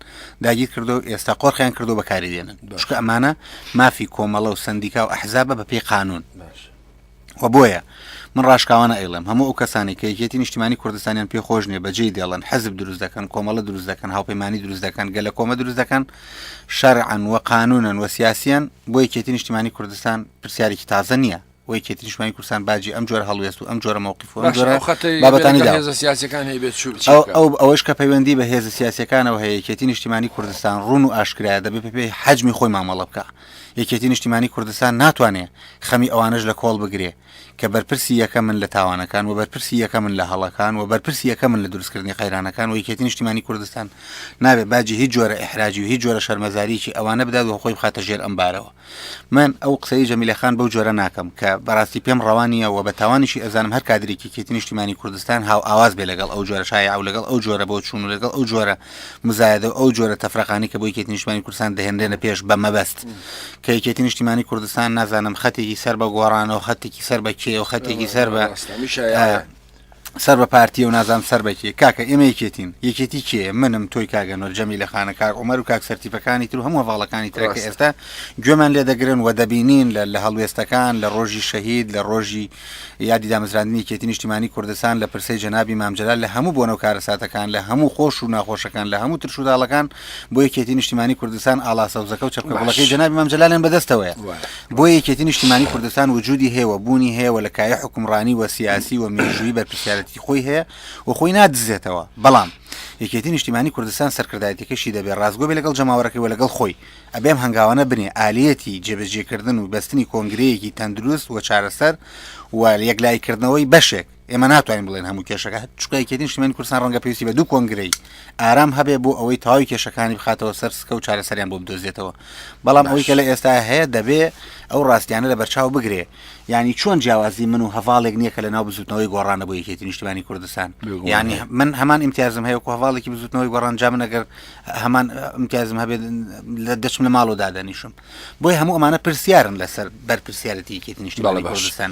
[SPEAKER 7] داگیر کردو ئێستا قۆرخیان کردو بەکاری دێنن چکە ئەمانە مافی کۆمەڵە و سندیکا و ئەحزابە بە پێی قانون و بۆیە من ڕاشکاوانە ئەیڵێم هەموو ئەو کەسانی کە یەکێتی نیشتمانی کوردستانیان پێ خۆش نیە بەجێ دێڵن حەزب دروست دەکەن کۆمەڵە دروست دەکەن هاوپەیمانانی دروست دەکەن گەلە کۆمە دروست دەکەن شەرعن و قانونن و سیاسیان بۆ یەکێتی نیشتمانی کوردستان پرسیارێکی تازە نییە و یەکێتی نیشتمانی کوردستان باجی ئەم جۆرە هەڵوێست و ئەم جۆرە مەوقف و ئەم جۆرە باشە ئەو خەتەی لە بابەتانی بەرەکە دا هێزە سیاسیەکان هەیە بێت چوو چی ئەو بکات؟ ئەو ئەوەش کە پەیوەندی بە هێزە سیاسەکانەوە هەیە یەکێتی نیشتیمانی کوردستان ڕون و ئاشکرایە دەبێت بە پێی حەجمی خۆی مامەڵە بکە یەکێتی نیشتیمانی کوردستان ناتوانێ خەمی ئەوانەش لە کۆڵ بگرێ کە بەرپرسی یەکە من لە تاوانەکان و بەرپرسی یەکە من لە هەڵەکان و بەرپرسی یەکە من لە دروستکردنی قەیرانەکان و یەکێتی نیشتیمانی کوردستان نابێت باجی هیچ جۆرە ئحراجی و هیچ جۆرە شەرمەزاریی ئەوانە بدات و خۆی بخاتە ژێر ئەم بارەوە من ئەو قسەی جەمیلە خان بەو جۆرە ناکەم کە بەڕاستی پێم ڕەوا نییە و بە تاوانیشی ئەزانم هەر کادرێکی کێتی نیشتیمانی کوردستان هاو ئاواز بێ لەگەڵ ئەو جۆرە شایعە و لەگەڵ ئەو جۆرە بۆ چوون و لەگەڵ ئەو جۆرە مزایەدە و ئەو جۆرە تەفرەقانی کە بۆ یەکێتی نیشتیمانی کوردستان دەهێنرێنە پێش بە مەبەست کە یەکێتی نیشتیمانی کوردستان نازانم خەتێکی سەر بە گۆڕانەوە خەتێکی سەر بە کێ و خەتێکی سەر بە ئیسلامی شایعە. سەر بە پارتیە و نازانم سەر بە کێ کاکە ئێمە یەکێتین یەکێتی کێیە منم تۆی کاگە نۆر جەمی لە خانە کاک عمر و کاک سەرتیپەکانی تر و هەموو هەواڵەکانی ترەکە ڕاستە. ئێستا گوێمان لێ دەگرن و دەبینین لە لە هەڵوێستەکان لە ڕۆژی شەهید لە ڕۆژی یادی دامەزراندنی یەکێتی نیشتیمانی کوردستان لە پرسەی جەنابی مام جەلال لە هەموو بۆنە و کارەساتەکان لە هەموو خۆش و ناخۆشەکان لە هەموو ترش و داڵەکان بۆ یەکێتی نیشتیمانی کوردستان ئاڵا سەوزەکە و چەپکە باش. گوڵەکەی جەنابی مام جەلالیان بەدەستەوەیە وایە. بۆیە یەکێتی نیشتیمانی کوردستان وجودی هەیە و بوونی هەیە و لە کایەی حوکمڕانی و سیاسی و مێژوویی بەرپرسیارێتیی خۆی هەیە و خۆی نادزێتەوە، بەڵام یەکێتی نیشتیمانی کوردستان سەرکردایەتیەکەی شی دەبێ ڕاستگۆ بێ لەگەڵ جەماوەرەکەی و لەگەڵ خۆی، ئەبێ ئەم هەنگاوانە بنێ ئالیەتی جێبەجێکردن و بەستنی کۆنگرەیەکی تەندروست و چارەسەر و یەکلاییکردنەوەی بەشێک. ئێمە ناتوانین بڵێن هەموو کێشەکە چکە یەکێتی نیشتیمانی کوردستان ڕەنگە پێویستی بە دوو کۆنگرەی ئارام هەبێ بۆ ئەوەی تەواوی کێشەکانی بخاتەوە سەر سکە و چارەسەریان بۆ بدۆزێتەوە بەڵام ئەوەی کە لە ئێستا هەیە دەبێ ئەو ڕاستیانە لە بەرچاو بگرێ ینی چۆن جیاوازی من و هەواڵێک نییە کە لە ناو بزوتنەوەی گۆڕانە بۆ یەکێتی نیشتیمانی کوردستان ینی من هەمان امتیازم هەیە هەواڵێکی بزوتنەوەی گۆڕان جا من ئەگەر هەمان امتیازم هەبێت لە دەچم لە ماڵەوە دادەنیشم بۆی هەموو ئەمانە پرسیارن لەسەر بەرپرسیارەتی یەکێتی نیشتیمانی کوردستان.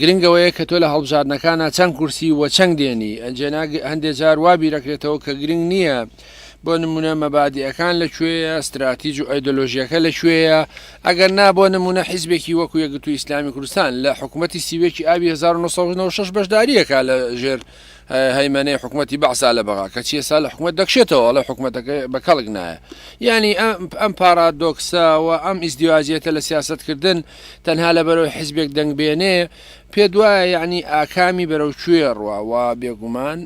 [SPEAKER 3] گرنگ ئەوەیە کە تۆ لە هەڵبژاردنەکانا چەند کورسی و چەنگ دێنی ئەنجێنا هەندێ جار وا بیرەکرێتەوە کە گرنگ نییە بۆ نمونە مەبادیئەکان لە کوێیە ستراتیج و ئەیدۆلۆژیەکە لە کوێیە ئەگەر نا بۆ نمونە حیزبێکی وەکو یەکگرتوو ئیسلامی کوردستان لە حکوومەتی سیوێکی ئابی 1996 بەشداریەکە لە ژێر هەیمەنەی حکوومەتی بەعسا لە بەغا کە چیە سا لە حکوومەت دەکشێتەوە ئەڵە حکوومەتەکە بە کەڵک نایە ینی ئەم پارادۆکسە و ئەم ئیزدیواجیەتە لە سیاستکردن تەنها لەبەرەوەی حزبێک دەنگ بێنێ پێت وایە یعنی ئاکامی بەرەو کوێ ڕوا و بێگومان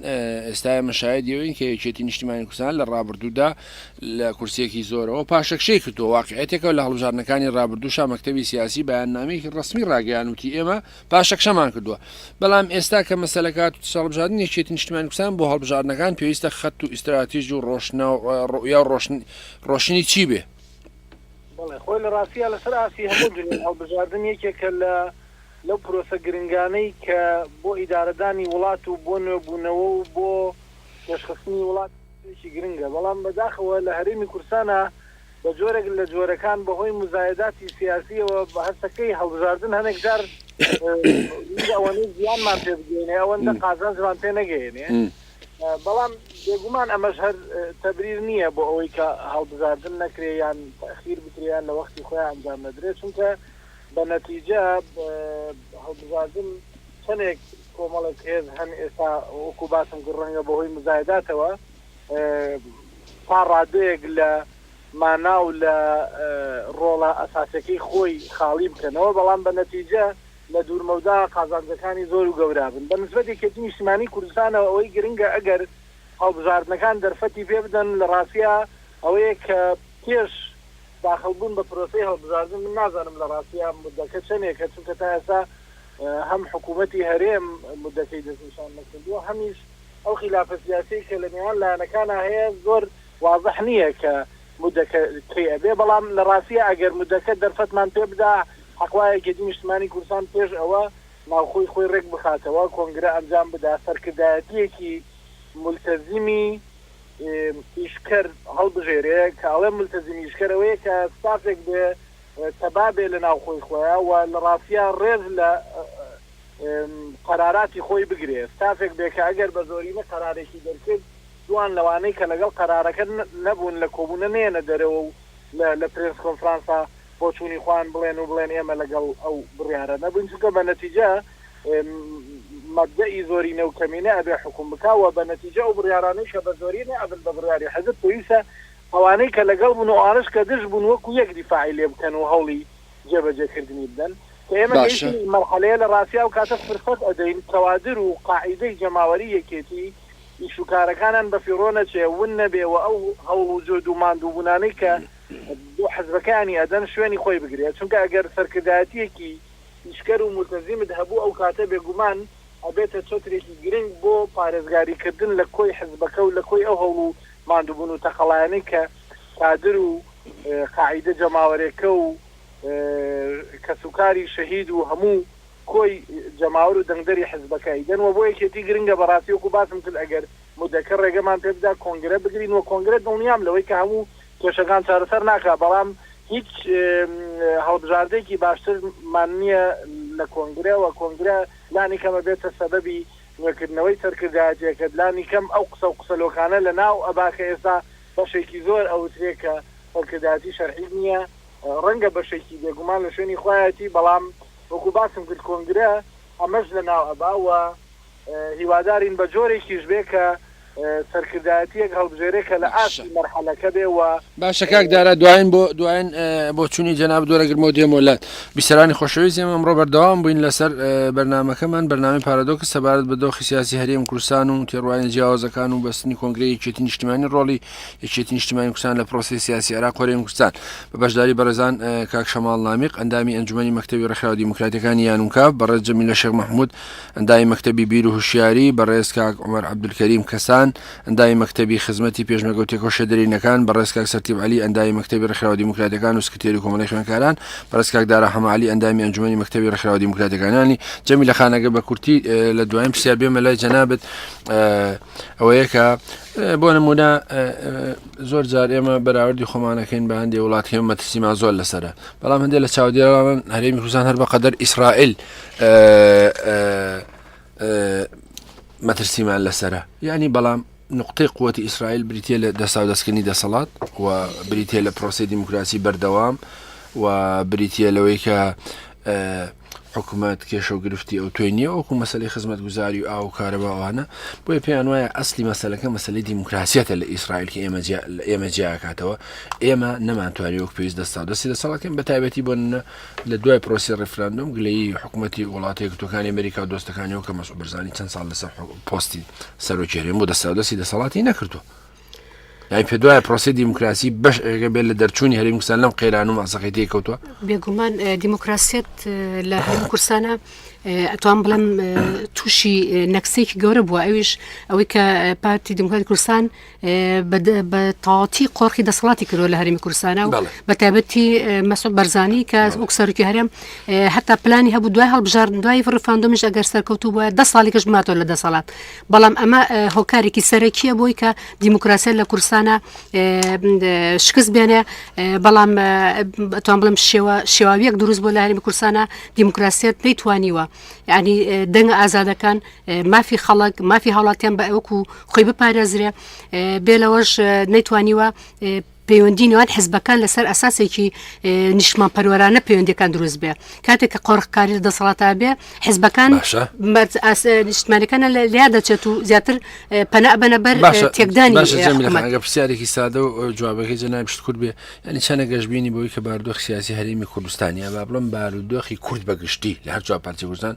[SPEAKER 3] ئێستا ئێمە شاید یەوەین کە یەکێتی نیشتیمانی کوردستان لە ڕابردوودا لە کورسێکی زۆرەوە پاشەکشەی کردو واقعەتێکەوە لە هەڵبژاردنەکانی ڕابردووشا مەکتەبی سیاسی بەیاننامەیەکی ڕسمی ڕاگەیانوتی ئێمە پاشەکشەمان کردووە بەڵام ئێستا کە مەسەلەکات هەڵبژاردن یەکێتی نیشتیمانی کوردستان بۆ هەڵبژاردنەکان پێویستە خەت و ئیستراتیژ و ڕۆشنە ڕوئیا ڕۆشن ڕۆشنی چی بێ بەڵێ
[SPEAKER 8] خۆی لە ڕاستیا لەسەر ئاستی هەموو دونیا هەڵبژاردن یەکێکە لە لەو پرۆسە گرنگانەی کە بۆ ئیدارەدانی وڵات و بۆ نوێبوونەوە و بۆ پێشخستنی وڵات شتێکی گرنگە بەڵام بەداخەوە لە هەرێمی کورسانا بە جۆرێک لە جۆرەکان بە هۆی موزایەداتی سیاسیەوە هەستەکەی هەڵبژاردن هەنێک جار ئەوەنەی زیانمان پێ بگەینێ ئەوەندە قازانجمان پێ نەگەیەنێ بەڵام بێگومان ئەمەش هەر تەبریر نییە بۆ ئەوەی کە هەڵبژاردن نەکرێ یان تەئخیر بکرێ یان لە وەختی خۆیان ئەنجام نەدرێ، چونکە بە نەتیجە هەڵبژاردن چەندێک کۆمەڵێک هێز هەن ئێستا وەکوو باسم کرد ڕەنگە بە هۆی مزایداتەوە تا ڕادەیەک لە مانا و لە ڕۆڵە ئەساسیەکەی خۆی خاڵی بکەنەوە، بەڵام بە نەتیجە لە دوورمەودا قازانجەکانی زۆر و گەورابن بە نسبەت یەکێتی نیشتیمانی کوردستانەوە ئەوەی گرنگە ئەگەر هەڵبژاردنەکان دەرفەتی پێ بدەن لە ڕاستیا ئەوەیە کە پێش داخڵبوون بە پرۆسەی هەڵبژاردن من نازانم لە ڕاستیا موددەکە چەنێکە چونکە تا ئێستا هەم حکوومەتی هەرێم موددەکەی دەستنیشان نەکردووە هەمیش ئەو خیلافە سیاسیەی کە لە نێوان لایەنەکانا هەیە زۆر وازح نییە کە مدەکە کەی ئەبێ بەڵام لە ڕاستیا ئەگەر مدەکە دەرفەتمان پێ بدا حەق وایە یەکێتی نیشتمانی کوردستان پێش ئەوە ناوخۆی خۆی ڕێک بخاتەوە کۆنگرە ئەنجام بدا سەرکردایەتیەکی مولتەزیمی ئیشکەر هەڵبژێرێ کە ئەڵێم مولتەزیمی ئیشکەر ئەوەیە کە ستافێک بێ تەبا بێ لە ناوخۆی خۆیان و لە ڕاستیا ڕێز لە قەراراتی خۆی بگرێ ستافێک بێ کە ئەگەر بە زۆرینە قەرارێکی دەرکرد دووان لەوانەی کە لەگەڵ قەرارەکە نەبوون لە کۆبوونە نەیەنە دەرەوە و لە پرێس کۆنفرانسا بۆچوونی خۆیان بڵێن و بڵێن ئێمە لەگەڵ ئەو بڕیارە نەبووین چونکە بە نەتیجە مەبدەئی زۆرینە و کەمینە ئەبێ حوکم بکا و بە نەتیجە ئەو بڕیارانەی کە بە زۆرینە ئەبن بە بڕیاری حزب پێویستە ئەوانەی کە لەگەڵ بوون و ئەوانەش کە دژ بوون وەکو یەک دیفاعی لێ بکەن و هەوڵی جێبەجێ کردنی بدەن کە ئێمە گەیشتین ئەم مەرحەلەیە لە ڕاستی ئەو کاتە فرسەت ئەدەین کەوادر و قاعیدەی جەماوەری یەکێتی ئیش و کارەکانان بە فیڕۆ نەچێ، ون نەبێ و ئەو هەوڵ و جهد و ماندووبوونانەی کە بۆ حزبەکەیانی ئەدەن شوێنی خۆی بگرێ، چونکە ئەگەر سەرکردایەتییەکی ئیشکەر و مولتەزیمت هەبوو ئەو کاتە بێگومان ئەبێتە چەترێکی گرنگ بۆ پارێزگاری کردن لە کۆی حزبەکە و لە کۆی ئەو هەوڵ و ماندووبوون و تەقەلایانەی کە کادر و قاعیدە جەماوەرێکە و کەس و کاری شەهید و هەموو کۆی جەماوەر و دەنگدەری حزبەکەی دەن وە بۆ یەکێتی گرنگە بەڕاستی وەکو باسم کرد ئەگەر مدەکە ڕێگەمان پێ بدا کۆنگرە بگرین وە کۆنگرە دڵنیام لەوەی کە هەموو کێشەکان چارەسەر ناکا بەڵام هیچ هەڵبژاردەیەکی باشتر مان نیە لە کۆنگرە وە کۆنگرە لانی کەم ئەبێتە سەبەبی نوێکردنەوەی سەرکردایەتیەکەت لانی کەم ئەو قسەو قسە لۆکانە لە ناو ئەبا کە ئێستا بەشێکی زۆر ئەوترێ کە سەرکردایەتی شەرعی نیە ڕەنگە بەشێکی بێگومان لە شوێنی خۆیاتی بەڵام وەکو باسم کرد کۆنگرە ئەمەش لەناو ئەبا و هیوادارین بە جۆرێکیش بێ کە سەرکردایەتیەک هەڵبژێرێ کە لە ئاستی مەرحەلەکە بێ و باشە کاک دارا
[SPEAKER 3] دوایین بۆ دوایین بۆچوونی جەنابت وەرەگرمەوە دێمەوە لات. بیسەرانی خۆشەویست ئێمە ئەمڕۆ بەردەوام بووین لەسەر بەرنامەکەمان بەرنامەی پارادۆکس سەبارەت بە دۆخی سیاسی هەرێم کوردستان و تێڕوانینە جیاوازەکان و بەستنی کۆنگرەی یەکێتی نیشتیمانی ڕۆڵی یەکێتی نیشتمانی کوردستان لە پرۆسی سیاسی عراق هەرێمی کوردستان بە بەشداری بەڕێزان کاک شەماڵ نامیق ئەندامی ئەنجومی مەکتتەبی ڕێکخراوە دیموکراتەکانی یانونکە بەڕێز جەمی لە شێخ مححمود ئەندای مەکتتەبی بیر و هوشیاری بەڕێز کاک عمر عبدولکەریم کەسان ئەندای مەکتتەبی خزمەتی پێشمەگەوت تێکۆشە دەرینەکان بەڕێز کاک سەرتیب علی ئەندای مەکتتەبی ڕێکخراوە دیموکراتەکان و سکرتێری کۆمەڵی خوێنکاران بەڕێز کاک دارا حەمالی ئەندامی ئەنجومی مەکتتەبی ڕێکخراوە دیموکراتەکانانی جەمی لە خانەگە بە کورتی لە دوایین پرسیار بێمە لای جەنابەت ئەوەیە کە بۆ نمونە زۆر جار ئێمە بەراوردی خۆمانەکەین بە هەندێک وڵاتکەم مەترسیمان زۆر لەسرە بەڵام هەندێک لە چاودێران هەرێمی کوردستان هەر بە قەدەر ئیسرائیل مەترسیمان لەسرە یعنی بەڵام نقطەی قوتی ئیسرائیل بریتە لە دەسا دەستکردنی دەسەڵات و بریتە لە پرۆسی دیموکراسی بەردەوام و بریتە لەوەی کە حکومەت کێشە و گرفتی ئەو توێ نییە وەکو مەسلەی خزمەتگوزاری و ئاو و کارەبا ئەوانە بۆیە پێیان وایە ئەسلی مەسلەکە مەسلی دیموکراسیەتە لە ئیسرائیل کە ئێمە ئێمە جیاکاتەوە ئێمە نەمانتوانی وەک پێویست دەستا دەستی لە ساڵەکەم بە تایبەتی بۆ نە لە دوای پرۆسی ڕفراندۆم گلەی حکوومەتی وڵاتی گوتەکانی ئەمریکا و دۆستەکانیەوە کە مەسوبرزانانی چەند ساڵ لەسەر پۆستی سەرۆکێنێن بۆ دەستا دەستی دەسەڵاتی نەکردو لای پێدوایە پرۆسی دیموکراسی بەش ئێگە بێت لە دەرچوونی هەریم کوردستان لەم قەیران و ماسەقی تێکەوتوە بێگومان
[SPEAKER 4] دیموکراسیت لە هەریم کوردستانە ئەتوان بڵم تووشی نەکسێکی گەورە بووە ئەویش ئەوەی کە پارتی دیموکراتی کوردستان بە تاواتی قۆرخی دەسەڵاتی کردوە لە هەرمی کوردستانە و بە تایبەتی مەسۆب بەرزانی کە وەک سەرکی هەرم هەتا پلانی هەبوو دوای هەڵبژاردن دوای ڕفاندۆمیش ئەگەر سەرکەوتوو بە ده ساڵیکەش ماتۆ لە دەسەڵات بەڵام ئەمە هۆکارێکی سەرەکیە بۆی کە دیموکراسیە لە کورسانە شکست بێنێ بەڵام بەتوان بڵم شێوە شێواویەک دروست بۆ لە هەرمی کورسانە دیموکراسیت نەیتوانیوە ینی دەنگ ئازادەکان مافی خەڵک مافی هاوڵاتیان بە ئەوکو خۆی بپارێزرێ بێ لەوەش نەیتوانیوە پەیوەندی نێوان حزبەکان لەسەر ئەساسێکی نیشتمان پەروەرانە پەیوەندەکان دروست بێ کاتێک کە قۆرخکاری لە دەسەڵاتا بێ حزبەکان نیشتمانەکانە لە لیا دەچێت و زیاتر پەنا بەە بەر تێکدانی
[SPEAKER 3] پرسیارێکی سادە و جوابەکەی جەنای پشت کورد بێ ینی چەنە گەشببینی بۆی کە باردۆخ سیاسی هەرێمی کوردستانیا با بڵم بارودۆخی کورد بەگشتی لە هەرجا پارتی کوردستان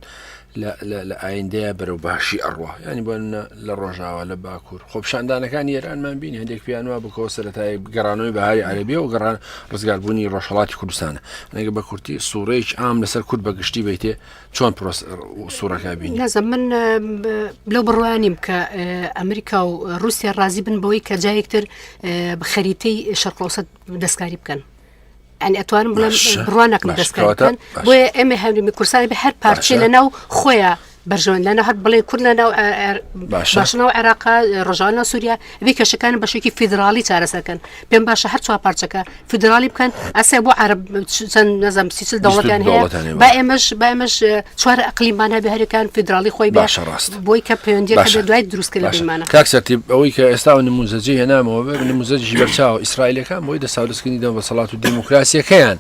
[SPEAKER 3] لە ئایندەیە بەرەو باشی ئەڕوا ینی بۆ منە لە ڕۆژاوا لە باکوور خۆپشاندانەکانی ئێرانمان بین هەندێک پیانوا بکەوە سەتای گەڕانەوەی بەهاری عەربیە و گەڕان ڕزگاربوونی ڕۆژهڵاتی کوردستانە نەگە بە کورتی سوڕێک ئام لەسەر کورد بە گشتی بیتێ چۆن پرۆس سوڕەکە بین نازم من
[SPEAKER 4] لەو بڕوانیم کە ئەمریکا و رووسیا ڕازی بن بۆی کە جایەکتر بخەریتەی شەرقۆسە دەستکاری بکەن ئەنی ئەتوانم بڵێن بڕوانەکە دەستکەوتن بۆیە ئێمە هەمریمی کورسانی بە هەر پارچێ لە ناو خۆیان بەرژۆن لەە هەر بڵێ کورد لە ناو باشنەوە عێراق ڕژانە سووریا بی کەشەکان بەشێکی فیدراڵی چارەسەکەن پێم باشە هەر چوار پارچەکە فیدراڵی بکەن ئەسێ بۆ عرب چەند نەزم سیچل دەوڵەتیان هەیە با ئێمەش بامەش چوار ئەقلیمان هەبێ هەرەکان فیدراڵی خۆی باشە ڕاست بۆی کە پەیوەندیەکە باشە. بێت دوای دروستکە لە باشە بیمانە کاک سەرتیب ئەوەی کە
[SPEAKER 3] ئێستا و نموزەجی هێنامەوە بێ نموزەجی بەرچاو ئیسرائیلەکان بۆی دەسا و دەستکردنی دەم دەسەڵات و دیموکراسیەکەیان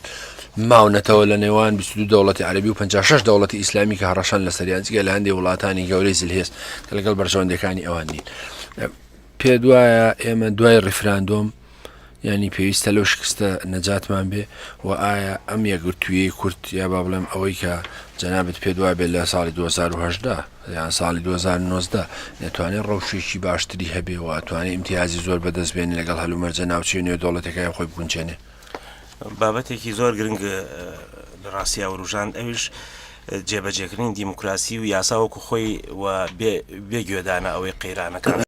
[SPEAKER 3] ماونەتەوە لە نێوان 22 دەوڵەتی عەربی و 56 دەوڵەتی ئیسلامی کە هەڕەشان لە سەریان جگە لە هەندێک وڵاتانی گەورەی زلهێز کە لەگەڵ بەرژەوەندەکانی ئەوان نین پێ دوایە ئێمە دوای ڕیفراندۆم یانی پێویستە لەو شکستە نەجاتمان بێ و ئایا ئەم یەکگرتوویەی کورد یا با بڵێم ئەوەی کە جەنابت پێت وابێت لە ساڵی 2010 یان ساڵی 2009 نەتوانێت ڕەوشێکی باشتری هەبێ و ئەتوانێت ئیمتیازی زۆر بەدەست بێن لەگەڵ هەلومەرجە ناوچەی نوێ دەوڵەتەکەی خۆی بگونچێنێ بابەتێکی
[SPEAKER 5] زۆر گرنگ لە ڕاستیا وروژان ئەوش جێبەجێکردنی دیموکراسی و یاساوەکو خۆی و بێ گوێدانە ئەوەی قەیرانەکان